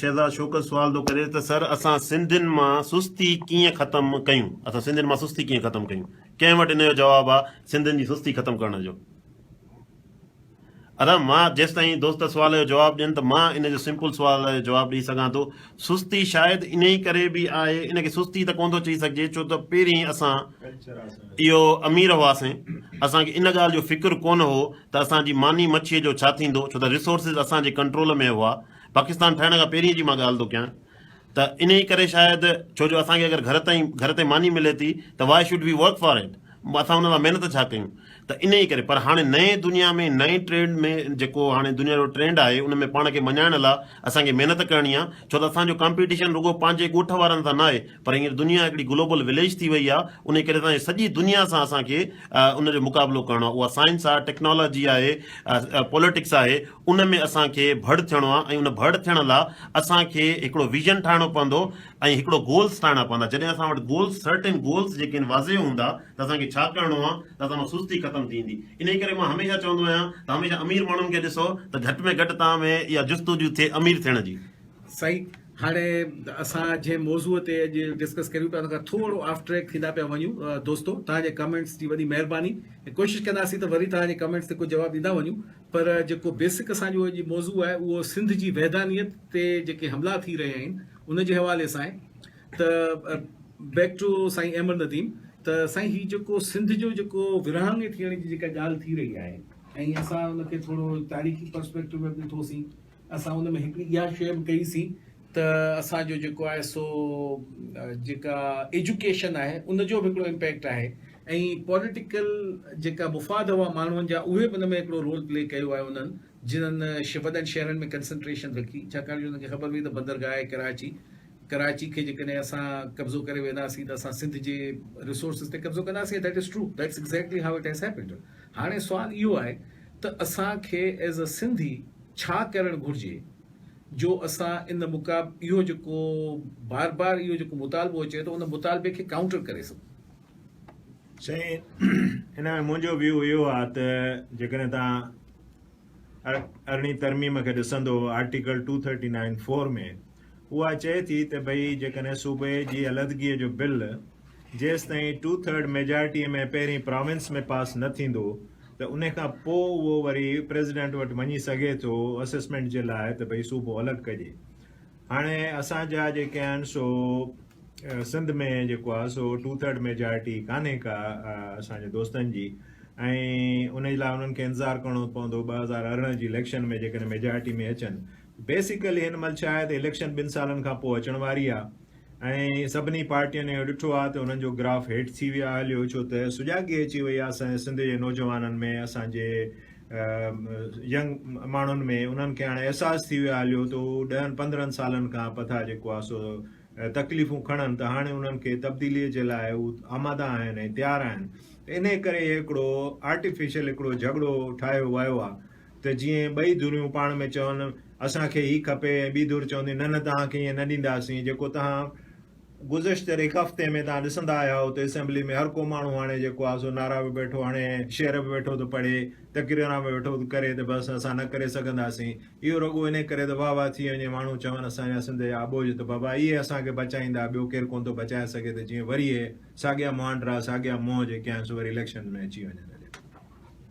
شهزاد شوڪت سوال ٿو ڪري ته سر اسان سنڌين مان سستي ڪيئن ختم ڪيون اسان سنڌين مان سستي ڪيئن ختم ڪيون ڪنهن وٽ ان جو جواب آ سنڌين جي سستي ختم ڪرڻ جو. ارحم، مان جيستائين دوست سوال جو جواب ڏين ته مان ان جو سمپل سوال جو جواب ڏئي سگهان ٿو. سستي شايد انهي ڪري به آهي، ان کي سستي ته ڪونه ٿو چئي سگهجي ڇو ته پهرين اسان اهو امير هئاسين، اسان کي ان ڳالهه جو فڪر ڪونه هو ته اسان جي ماني مڇيء جو ڇا ٿيندو ڇو ته ريسورسز اسان جي ڪنٽرول ۾ هئا، پاڪستان ٺهڻ کان پهرين جي مان ڳالهه ٿو ڪيان، ته انهيء ڪري شايد ڇو جو اسان کي اگر گهر تائين گهر تي ماني ملي ٿي ته Why should we work for it؟ اسان ان لاء محنت ڇا ڪيون؟ ته انهيء ڪري پر هاڻي نئين دنيا ۾ نئين ٽرينڊ ۾ جيڪو هاڻي دنيا جو ٽرينڊ آهي ان ۾ پاڻ کي مڃائڻ لاء اسان کي محنت ڪرڻي آهي ڇو ته اسان جو ڪامپيٽيشن رڳو پنهنجي ڳوٺ وارن سان ناهي پر هينئر دنيا هڪڙي گلوبل وليج ٿي وئي آهي انهيء ڪري اسان کي سڄي دنيا سان اسان کي ان جو مقابلو ڪرڻو آهي اها سائنس آهي ٽيڪنالاجي آهي پوليٽڪس آهي ان ۾ اسان کي ڀڙ ٿيڻو آ ۽ ان ڀڙ ٿيڻ لا اسان کي هڪڙو ويزن ٺاهڻو پوندو ۽ هڪڙو گولز ٺاهڻا پوندا جڏهن اسان وٽ گولز سرٽن گولز جيڪي آهن واضح هوندا ته اسان کي ڇا ڪرڻو آ ته اسان مان سستي ختم ٿي ويندي انهي ڪري مان هميشه چوندو آهيان ته هميشه امير ماڻهن کي ڏسو ته گهٽ ۾ گهٽ توهان ۾ اها جستجو ٿئي امير ٿيڻ جي. صحيح هاڻي اسان جنهن موضوع تي اڄ ڊسڪس ڪريون پيا ان کان ٿورو آف ٽريڪ ٿيندا پيا وڃون دوستو توهان جي ڪمينٽس جي وڏي مهرباني ۽ ڪوشش ڪنداسين ته وري توهان جي ڪمينٽس تي ڪجهه جواب ڏيندا وڃون پر جيڪو بيسڪ اسان جو اڄ موضوع آهي اهو سنڌ جي وحدانيت تي جيڪي حملا ٿي رهيا آهن ان جي حوالي سان آهي ته بيڪ ٽو سائين احمد نديم ته سائين هي جيڪو سنڌ جو جيڪو ورهاڱي ٿيڻ جي جيڪا ڳالهه ٿي رهي آهي ۽ اسان ان کي ٿورو تاريخي پرسپيڪٽو ۾ به ڏٺوسين اسان ان ۾ هڪڙي اها شيء به ڪئي سين ته اسان جو جيڪو آهي سو جيڪا ايجوڪيشن آهي ان جو به هڪڙو امپيڪٽ آهي ۽ پوليٽيڪل جيڪا مفاد هئا ماڻهن جا اهي به ان ۾ هڪڙو رول پلي ڪيو آهي انهن جنهن وڏن شهرن ۾ ڪنسنٽريشن رکي ڇاڪاڻ جو انهن کي خبر هئي ته بندرگاهه آهي ڪراچي ڪراچي کي جيڪڏهن اسان قبضو ڪري وينداسين ته اسان سنڌ جي ريسورسز تي قبضو ڪنداسين that is true that's exactly how it has happened هاڻي سوال اهو آهي ته اسان کي ايز ا سنڌي ڇا ڪرڻ گهرجي جو اسان ان مقاب اهو جيڪو بار بار اهو جيڪو مطالبو اچي ٿو ان مطالبي کي ڪائونٽر ڪري سگهون. سائين ان ۾ منهنجو ويو اهو آ ته جيڪڏهن توهان ارڙهين ترميم کي ڏسندو article two thirty nine four ۾ اها چئي ٿي ته ڀئي جيڪڏهن صوبي جي علحدگيء جو بل جيستائين ٽو ٿرڊ ميجارٽيء ۾ پهرين پراونس ۾ پاس نه ٿيندو ته ان کان پوء اهو وري پريزيڊنٽ وٽ وڃي سگهي ٿو اسيسمينٽ جي لاء ته ڀئي صوبو الڳ ڪجي. هاڻي اسان جا جيڪي آهن سو سنڌ ۾ جيڪو آهي سو ٽو ٿرڊ ميجارٽي ڪانهي ڪا اسان جي دوستن جي ۽ ان جي لاء انهن کي انتظار ڪرڻو پوندو ٻه هزار ارڙهن جي اليڪشن ۾ جيڪڏهن ميجارٽي ۾ اچن بيسيڪلي هن مهل ڇا آهي ته اليڪشن ٻن سالن کان پوء اچڻ واري آهي ۽ سڀني پارٽين اهو ڏٺو آهي ته انهن جو گراف هيٺ ٿي ويو آهي هليو ڇو ته سجاڳي اچي وئي آهي اسان جي سنڌ جي نوجوانن ۾ اسان جي ينگ ماڻهن ۾ انهن کي هاڻي احساس ٿي ويو آهي هليو ته هو ڏهن پندرهن سالن کان پٿا جيڪو آهي سو تڪليفون کڻن ته هاڻي انهن کي تبديلي جي لاء هو آماده آهن ۽ تيار آهن ته انهي ڪري هڪڙو آرٽيفيشل هڪڙو جهڳڙو ٺاهيو ويو آهي ته جيئن ٻئي ڌريون پاڻ ۾ چون اسان کي هي کپي ۽ ٻي ڌر چوندي نه نه توهان کي ائين نه ڏينداسين جيڪو توهان گذشتل هڪ هفتي ۾ توهان ڏسندا آيا آهيو ته اسيمبلي ۾ هر ڪو ماڻهو هاڻي جيڪو آهي سو نعرا به ويٺو هڻي شعر به ويٺو ٿو پڙهي تقريران به ويٺو ٿو ڪري ته بس اسان نه ڪري سگهنداسين اهو رڳو انهي ڪري ته واهه واهه ٿي وڃي ماڻهو چون اسان جا سنڌ جا اٻوجهه ته بابا اهي اسان کي بچائيندا ٻيو ڪير ڪونه ٿو بچائي سگهي ته جيئن وري اهي ساڳيا مهانڊرا ساڳيا منهن جيڪي آهن سو وري اليڪشنز ۾ اچي وڃن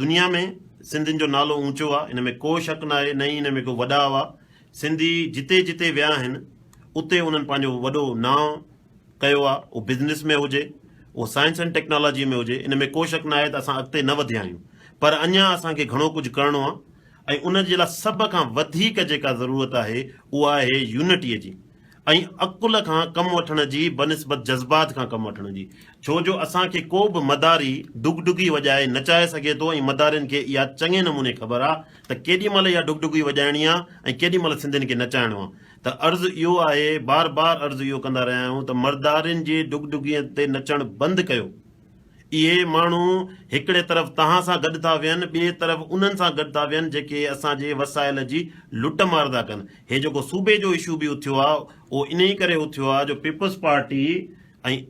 دنيا ۾ سنڌين جو نالو اونچو آ ان ۾ ڪو شڪ ناهي نه ئي ان ۾ ڪو وڏا هئا سنڌي جتي جتي ويا آهن اتي انهن پنهنجو وڏو نانء ڪيو آ اهو بزنس ۾ هجي اهو سائنس اينڊ ٽيڪنالاجي ۾ هجي ان ۾ ڪو شڪ ناهي ته اسان اڳتي نه وڌيا آهيون پر اڃان اسان کي گهڻو ڪجهه ڪرڻو آ ۽ ان جي لاء سڀ کان وڌيڪ جيڪا ضرورت آهي اها آهي يونٽيء جي ۽ عقل کان ڪم وٺڻ جي بنسبت جذبات کان ڪم وٺڻ جي ڇو جو اسان کي ڪو به مداري ڍڳڍڳي وڄائي نچائي سگهي ٿو ۽ مدارين کي اها چڱي نموني خبر آ ته ڪيڏي مهل اها ڍڳڍڳي وڄائڻي آ ۽ ڪيڏي مهل سنڌين کي نچائڻو آ ته عرض اهو آهي بار بار عرض اهو ڪندا رهيا آهيون ته مردارين جي ڍڳڍڳين تي نچڻ بند ڪيو اهي ماڻهو هڪڙي طرف توهان سان گڏ ٿا ويهن ٻئي طرف انهن سان گڏ ٿا ويهن جيڪي اسان جي وسائل جي لٽ مار ٿا ڪن هي جيڪو صوبي جو اشو به اٿيو آهي اهو انهي ڪري اٿيو آهي جو پيپلز پارٽي ۽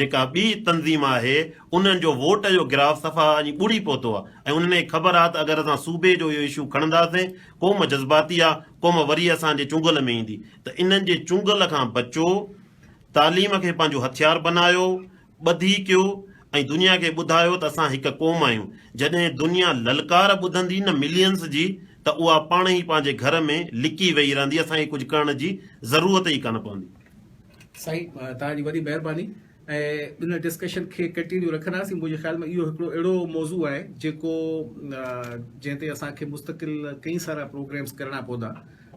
جيڪا ٻي تنظيم آهي انهن جو ووٽ جو گراف صفا اڃ ٻڙي پهتو آهي ۽ انهن کي خبر آهي ته اگر اسان صوبي جو اهو اشو کڻنداسين قوم جذباتي آهي قوم وري اسان جي چنگل ۾ ايندي ته انهن جي چنگل کان بچو تعليم کي پنهنجو هٿيار بنايو ٻڌي ڪيو ۽ دنيا کي ٻڌايو ته اسان هڪ قوم آهيون جڏهن دنيا للڪار ٻڌندي نه ملينس جي ته اها پاڻ ئي پنهنجي گهر ۾ لڪي ويهي رهندي اسان کي ڪجهه ڪرڻ جي ضرورت ئي ڪانه پوندي. سائين توهان جي وڏي مهرباني ۽ ان ڊسڪشن کي ڪنٽينيو رکنداسين منهنجي خيال ۾ اهو هڪڙو اهڙو موضوع آهي جيڪو جنهن تي اسان کي مستقل ڪئين سارا پروگريمس ڪرڻا پوندا.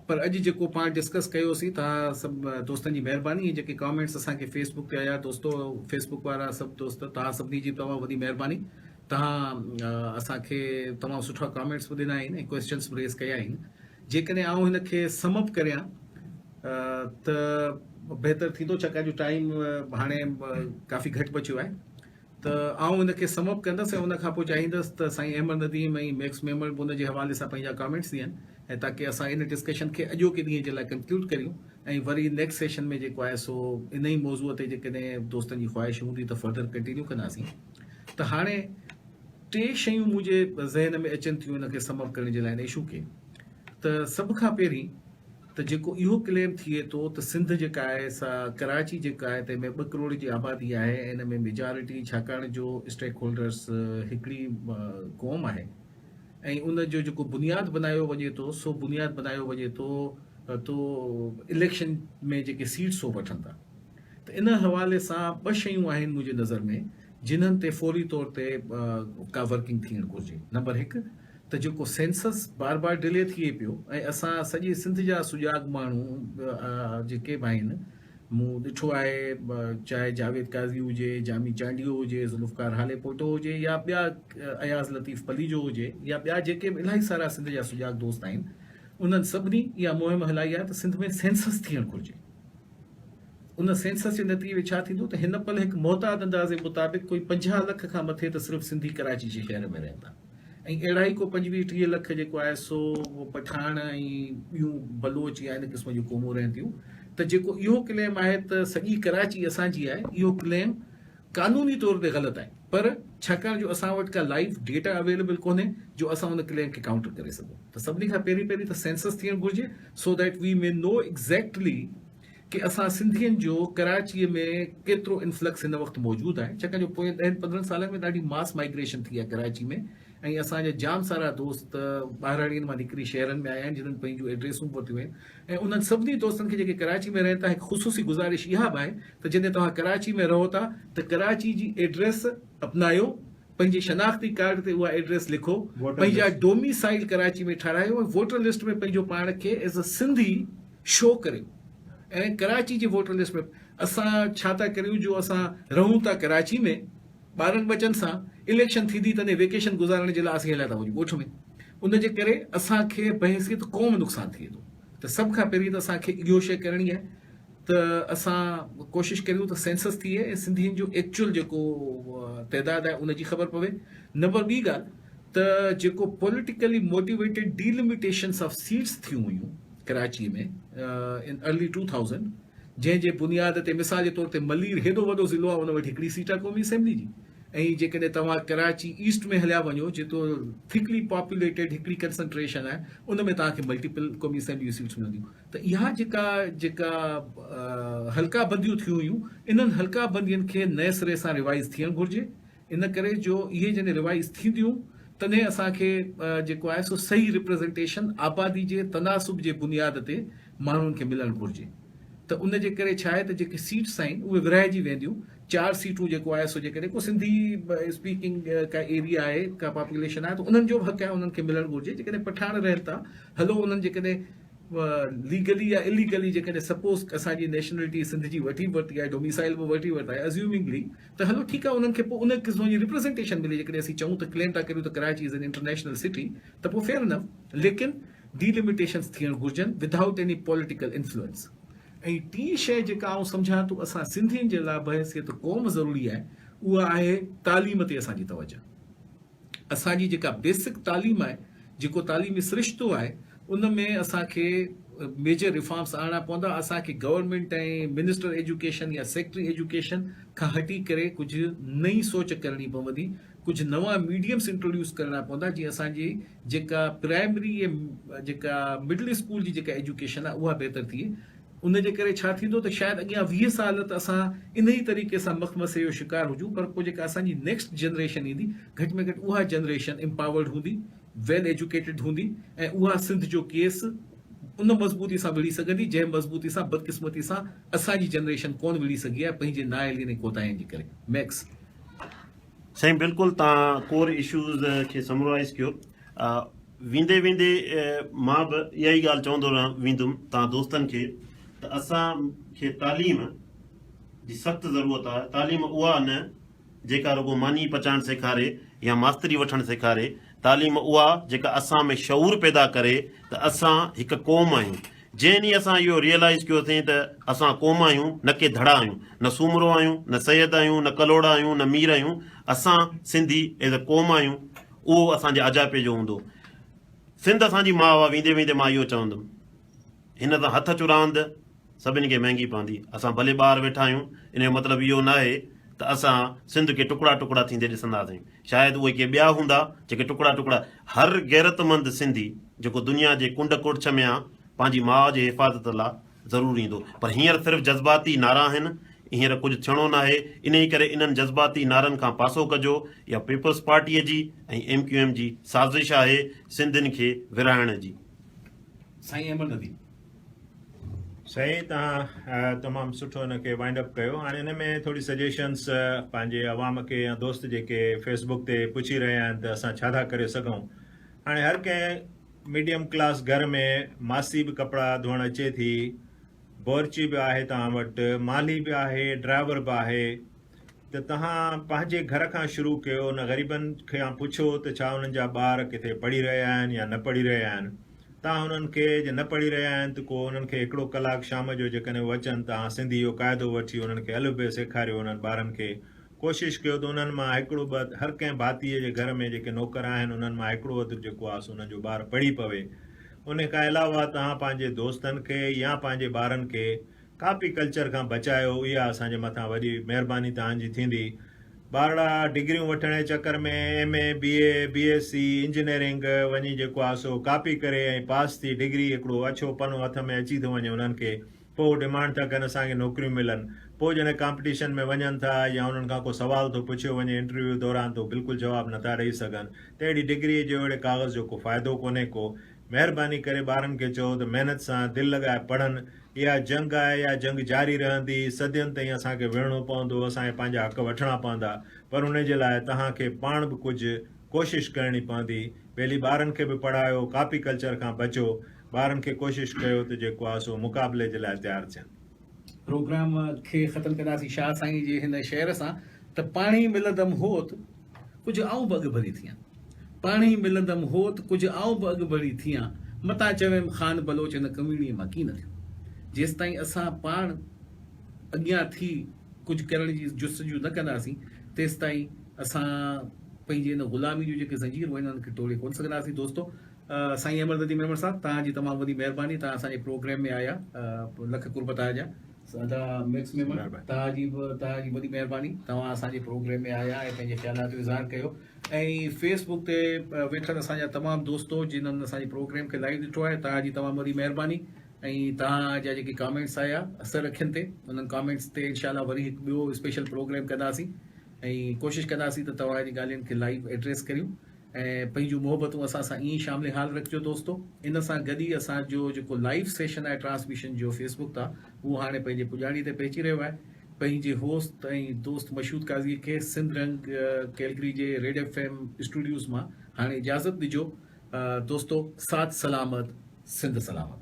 پر اڄ جيڪو پاڻ ڊسڪس ڪيوسين توهان سڀ دوستن جي مهرباني ۽ جيڪي ڪامينٽس اسان کي فيس بڪ تي آيا دوستو فيس بڪ وارا سڀ دوست توهان سڀني جي تمام وڏي مهرباني توهان اسان کي تمام سٺا ڪامينٽس به ڏنا آهن ۽ ڪويسچنس به ريز ڪيا آهن جيڪڏهن آئون هن کي سم اپ ڪريان ته بهتر ٿيندو ڇاڪاڻ جو ٽائيم هاڻي ڪافي گهٽ بچيو آهي ته آئون ان کي سم اپ ڪندس ۽ ان کان پوء چاهيندس ته سائين احمد نديم ۽ ميڪس ميمڻ به ان جي حوالي سان پنهنجا ڪامينٽس ڏين ۽ تاڪي اسان ان ڊسڪشن کي اڄوڪي ڏينهن جي لاء ڪنڪلوڊ ڪريون ۽ وري نيڪسٽ سيشن ۾ جيڪو آهي سو ان ئي موضوع تي جيڪڏهن دوستن جي خواهش هوندي ته فردر ڪنٽينيو ڪنداسين ته هاڻي ٽي شيون منهنجي ذهن ۾ اچن ٿيون ان کي سم اپ ڪرڻ جي لاء ان اشو کي ته سڀ کان پهرين ته جيڪو اهو ڪليم ٿئي ٿو ته سنڌ جيڪا آهي سا ڪراچي جيڪا آهي تنهن ۾ ٻه ڪروڙ جي آبادي آهي ۽ ان ۾ ميجارٽي ڇاڪاڻ جو اسٽيڪ هولڊرز هڪڙي قوم آهي ۽ ان جو جيڪو بنياد بنايو وڃي ٿو سو بنياد بنايو وڃي ٿو تو اليڪشن ۾ جيڪي سيٽس هو وٺن ٿا ته ان حوالي سان ٻه شيون آهن منهنجي نظر ۾ جنهن تي فوري طور تي ڪا ورڪنگ ٿيڻ گهرجي نمبر هڪ ته جيڪو سينسس بار بار ڊلي ٿئي پيو ۽ اسان سڄي سنڌ جا سجاڳ ماڻهو جيڪي به آهن مون ڏٺو آهي چاهي جاويد قاضي هجي جامي چانڊيو هجي ذوالفقار هالي پوٽو هجي يا ٻيا اياز لطيف پليجو هجي يا ٻيا جيڪي به الاهي سارا سنڌ جا سجاڳ دوست آهن انهن سڀني اها مهم هلائي آهي ته سنڌ ۾ سينسس ٿيڻ گهرجي ان سينسس جي نتيجي ۾ ڇا ٿيندو ته هن پل هڪ محتاط اندازي مطابق ڪوئي پنجاهه لک کان مٿي ته صرف سنڌي ڪراچي جي شهر ۾ رهندا ۽ اهڙا ئي ڪو پنجويهه ٽيهه لک جيڪو آهي سو اهو پٺاڻ ۽ ٻيون بلوچ يا ان قسم جون قومون رهن ٿيون ته جيڪو اهو ڪليم آهي ته سڄي ڪراچي اسان جي آهي اهو ڪليم قانوني طور تي غلط آهي پر ڇاڪاڻ جو اسان وٽ ڪا لائيو ڊيٽا اويليبل ڪونهي جو اسان ان ڪليم کي ڪائونٽر ڪري سگهون ته سڀني کان پهرين پهرين ته سينسس ٿيڻ گهرجي سو that we may know exactly ڪي اسان سنڌين جو ڪراچيء ۾ ڪيترو انفلڪس هن وقت موجود آهي ڇاڪاڻ جو پوئين ڏهن پندرهن سالن ۾ ڏاڍي ماس مائگريشن ٿي آهي ڪراچي ۾ ۽ اسان جا جام سارا دوست ٻاهراڙين مان نڪري شهرن ۾ آيا آهن جنن پنهنجون ايڊريسون ورتيون آهن ۽ انهن سڀني دوستن کي جيڪي ڪراچي ۾ رهن ٿا هڪ خصوصي گذارش اها به آهي ته جڏهن توهان ڪراچي ۾ رهو ٿا ته ڪراچي جي ايڊريس اپنايو پنهنجي شناختي ڪارڊ تي اها ايڊريس لکو، پنهنجا ڊوميسائيل ڪراچي ۾ ٺهرايو ۽ ووٽر لسٽ ۾ پنهنجو پاڻ کي ايز اي سنڌي شو ڪريو ۽ ڪراچي جي ووٽر لسٽ ۾ اسان ڇا ٿا ڪريون جو اسان رهون ٿا ڪراچي ۾ ٻارن ٻچن سان اليڪشن ٿيندي تڏهن ويڪيشن گذارڻ جي لاء اسين هليا ٿا وڃون ڳوٺ ۾ ان جي ڪري اسان کي بحيثيت قوم نقصان ٿئي ٿو. ته سڀ کان پهرين ته اسان کي اهو شيء ڪرڻي آهي ته اسان ڪوشش ڪريون ته سينسس ٿئي ۽ سنڌين جو ايڪچوئل جيڪو تعداد آهي ان جي خبر پوي. نمبر ٻي ڳالهه ته جيڪو politically motivated delimitations of seats ٿيون هيون Karachi ۾ in early two thousand جنهن جي بنياد تي مثال جي طور تي ملير هيڏو وڏو ضلعو آهي ان وٽ هڪڙي سيٽ آهي قومي اسيمبلي جي ۽ جيڪڏهن توهان ڪراچي ايسٽ ۾ هليا وڃو جيڪو ٿڪلي پاپوليٽيڊ هڪڙي ڪنسنٽريشن آهي ان ۾ توهان کي ملٽيپل قومي اسيمبلي جون سيٽس ملنديون ته اها جيڪا جيڪا حلقه بنديون ٿيون هيون انهن حلقه بندين کي نئين سري سان ريوائز ٿيڻ گهرجي ان ڪري جو اهي جڏهن ريوائز ٿينديون تڏهن اسان کي جيڪو آهي سو صحيح ريپريزنٽيشن آبادي جي تناسب جي بنياد تي ماڻهن کي ملڻ گهرجي ته ان جي ڪري ڇا آهي ته جيڪي سيٽس آهن اهي ورهائجي وينديون چار سيٽون جيڪو آهي سو جيڪڏهن ڪو سنڌي اسپيڪنگ ڪا ايريا آهي ڪا پاپوليشن آهي ته انهن جو به حق آهي انهن کي ملڻ گهرجي جيڪڏهن پٺاڻ رهن ٿا هلو انهن جيڪڏهن ليگلي يا اليگلي جيڪڏهن سپوز اسان جي نيشنلٽي سنڌ جي وٺي ورتي آهي ڊوميسائل به ورتي ورتي آهي ازيومنگلي ته هلو ٺيڪ آهي انهن کي پوء ان قسم جي ريپريزنٽيشن ملي جيڪڏهن اسين چئون ته ڪليم ٿا ڪريون ته Karachi is an international city ته پوء فيئر انف ليڪن ڊي لميٽيشنز ٿيڻ گهرجن without any political influence. ۽ ٽين شئي جيڪا آئون سمجهان ٿو اسان سنڌين جي لاء بحيثيت قوم ضروري آهي اها آهي تعليم تي اسان جي توجه اسان جي جيڪا بيسڪ تعليم آهي جيڪو تعليمي سرشتو آهي ان ۾ اسان کي ميجر ريفارمس آڻڻا پوندا اسان کي گورنمينٽ ۽ منسٽر ايجوڪيشن يا سيڪريٽري ايجوڪيشن کان هٽي ڪري ڪجهه نئين سوچ ڪرڻي پوندي ڪجهه نوان ميڊيمس انٽروڊيوس ڪرڻا پوندا جيئن اسان جي جيڪا پرائمري ۽ جيڪا مڊل اسڪول جي جيڪا ايجوڪيشن آهي اها بهتر ٿئي ان جي ڪري ڇا ٿيندو ته شايد اڳيان ويهه سال ته اسان انهي طريقي سان مخمسي جو شڪار هجون پر پوء جيڪا اسان جي نيڪسٽ جنريشن ايندي گهٽ ۾ گهٽ اها جنريشن امپاورڊ هوندي ويل ايجوڪيٽيڊ هوندي ۽ اها سنڌ جو ڪيس ان مضبوطي سان وڙهي سگهندي جنهن مضبوطي سان بدقسمتي سان اسان جي جنريشن ڪونه وڙهي سگهي آهي پنهنجي نااهلين ۽ ڪوتاهين جي ڪري ميڪس سائين بلڪل تان ڪور اشوز کي سمرائيز ڪيو ويندي ويندي مان به اها ئي ڳالهه چوندو رهان ويندم تان دوستن کي ته اسان کي تعليم جي سخت ضرورت آهي تعليم اها نه جيڪا رڳو ماني پچائڻ سيکاري يا ماستري وٺڻ سيکاري تعليم اها جيڪا اسان ۾ شعور پيدا ڪري ته اسان هڪ قوم آهيون جنهن ڏينهن اسان اهو ريئلائيز ڪيو اٿئين ته اسان قوم آهيون نه ڪي ڌڙا آهيون، نه سومرو آهيون، نه سيد آهيون، نه ڪلهوڙا آهيون، نه مير آهيون، اسان سنڌي ايز اي قوم آهيون اهو اسان جي اجائپي جو هوندو. سنڌ اسان جي ماء آ ويندي ويندي مان اهو چوندم هن سان هٿ اچ راند سڀني کي مهنگي پوندي اسان ڀلي ٻاهر ويٺا آهيون ان جو مطلب اهو ناهي ته اسان سنڌ کي ٽڪڙا ٽڪڙا ٿيندي ڏسنداسين. شايد اهي ڪي ٻيا هوندا جيڪي ٽڪڙا ٽڪڙا هر غيرتمند سنڌي جيڪو دنيا جي ڪنڊ ڪڙڇ ۾ آ پنهنجي ماء جي حفاظت لا ضرور ايندو پر هينئر صرف جذباتي نعرا آهن هينئر ڪجهه ٿيڻو ناهي انهي ڪري انهن جذباتي نعرن کان پاسو ڪجو اها پيپلز پارٽي جي ۽ ايم ڪيو ايم جي سازش آهي سنڌين کي ورهائڻ جي. سائين احمد نديم سائين توهان تمام سٺو ان کي وائنڊ اپ ڪيو هاڻي ان ۾ ٿوري سجيشنس پنهنجي عوام کي يا دوست جيڪي فيس بڪ تي پڇي رهيا آهن ته اسان ڇا ٿا ڪري سگهون هاڻي هر ڪنهن ميڊيم ڪلاس گهر ۾ ماسي به ڪپڙا ڌوئڻ اچي ٿي بورچي به آهي توهان وٽ مالهي به آهي ڊرائيور به آهي ته توهان پنهنجي گهر کان شروع ڪيو، ان غريبن کان پڇو ته ڇا انهن جا ٻار ڪٿي پڙهي رهيا آهن يا نه پڙهي رهيا آهن، توهان انهن کي جي نه پڙهي رهيا آهن ته ڪو انهن کي هڪڙو ڪلاڪ شام جو جيڪڏهن هو اچن توهان سنڌي جو قاعدو وٺي انهن کي الف بي سيکاريو انهن ٻارن کي ڪوشش ڪيو ته انهن مان هڪڙو ٻه هر ڪنهن ڀاتيء جي گهر ۾ جيڪي نوڪر آهن انهن مان هڪڙو اڌ جيڪو آهي سو انهن جو ٻار پڙهي پوي ان کان علاوه توهان پنهنجي دوستن کي يا پنهنجي ٻارن کي ڪاپي ڪلچر کان بچايو اها اسان جي مٿان وڏي مهرباني توهان جي ٿيندي ٻارڙا ڊگريون وٺڻ جي چڪر ۾ M A B A B S C engineering وڃي جيڪو آهي سو ڪاپي ڪري ۽ پاس ٿي ڊگري هڪڙو اڇو پنو هٿ ۾ اچي ٿو وڃي انهن کي پوء هو ڊمانڊ ٿا ڪن اسان کي نوڪريون ملن پوء جڏهن ڪامپٽيشن ۾ وڃن ٿا يا انهن کان ڪو سوال ٿو پڇيو وڃي انٽرويو دوران ته هو بلڪل جواب نٿا ڏئي سگهن ته اهڙي ڊگري جو اهڙي ڪاغذ جو ڪو فائدو ڪونهي ڪو مهرباني ڪري ٻارن کي چئو ته محنت سان دل لڳائي پڙهن اها جنگ آهي، اها جنگ جاري رهندي، صدين تائين اسان کي وڙهڻو پوندو، اسان کي پنهنجا حق وٺڻا پوندا، پر ان جي لاء توهان کي پاڻ به ڪجهه ڪوشش ڪرڻي پوندي، پهلي ٻارن کي به پڙهايو، ڪاپي ڪلچر کان بچو، ٻارن کي ڪوشش ڪيو ته جيڪو آهي سو مقابلي جي لاء تيار ٿين. پروگرام کي ختم ڪنداسين شاهه سائين جي هن شعر سان ته پاڻي ملندم هوت. ڪجهه آئون به اڳڀري ٿيان. پاڻهي ملندم هوت، ڪجهه آئون به اڳڀري ٿيان. متان چويم خان بلوچ ان ڪميڻي مان ڪين ٿيو. جيستائين اسان پاڻ اڳيان ٿي ڪجهه ڪرڻ جي جستجو نه ڪنداسين، تيستائين اسان پنهنجي ان غلامي جون جيڪي زنجيرون آهن، انهن کي ٽوڙي ڪونه سگهنداسين. دوستو! سائين احمد ردي ميمڻ صاحب، توهان جي تمام وڏي مهرباني. توهان اسان جي پروگرام ۾ آيا. لک قربت آء جا. سادا ميڪس ميمڻ توهان جي به توهان جي وڏي مهرباني توهان اسان جي پروگرام ۾ آيا ۽ پنهنجي خيالات جو اظهار ڪيو ۽ فيس بڪ تي ويٺل اسان جا تمام دوستو جنن اسان جي پروگرام کي لائيو ڏٺو آهي توهان جي تمام وڏي مهرباني ۽ توهان جا جيڪي ڪامينٽس آيا اثر اکين تي انهن ڪامينٽس تي انشاء الله وري هڪ ٻيو اسپيشل پروگرام ڪنداسين ۽ ڪوشش ڪنداسين ته توهان جي ڳالهين کي لائيو ايڊريس ڪريون ۽ پنهنجون محبتون اسان سان ائين ئي شامل حال رکجو دوستو ان سان گڏ ئي اسان جو جيڪو لائيو سيشن آهي ٽرانسميشن جو فيس بڪ تان اهو هاڻي پنهنجي پڄاڻي تي پهچي رهيو آهي پنهنجي هوست ۽ دوست مشهود قاضي کي سنڌ رنگ ڪيلگري جي ريڊ ايف ايم اسٽوڊيوز مان هاڻي اجازت ڏجو دوستو سات سلامت سنڌ سلامت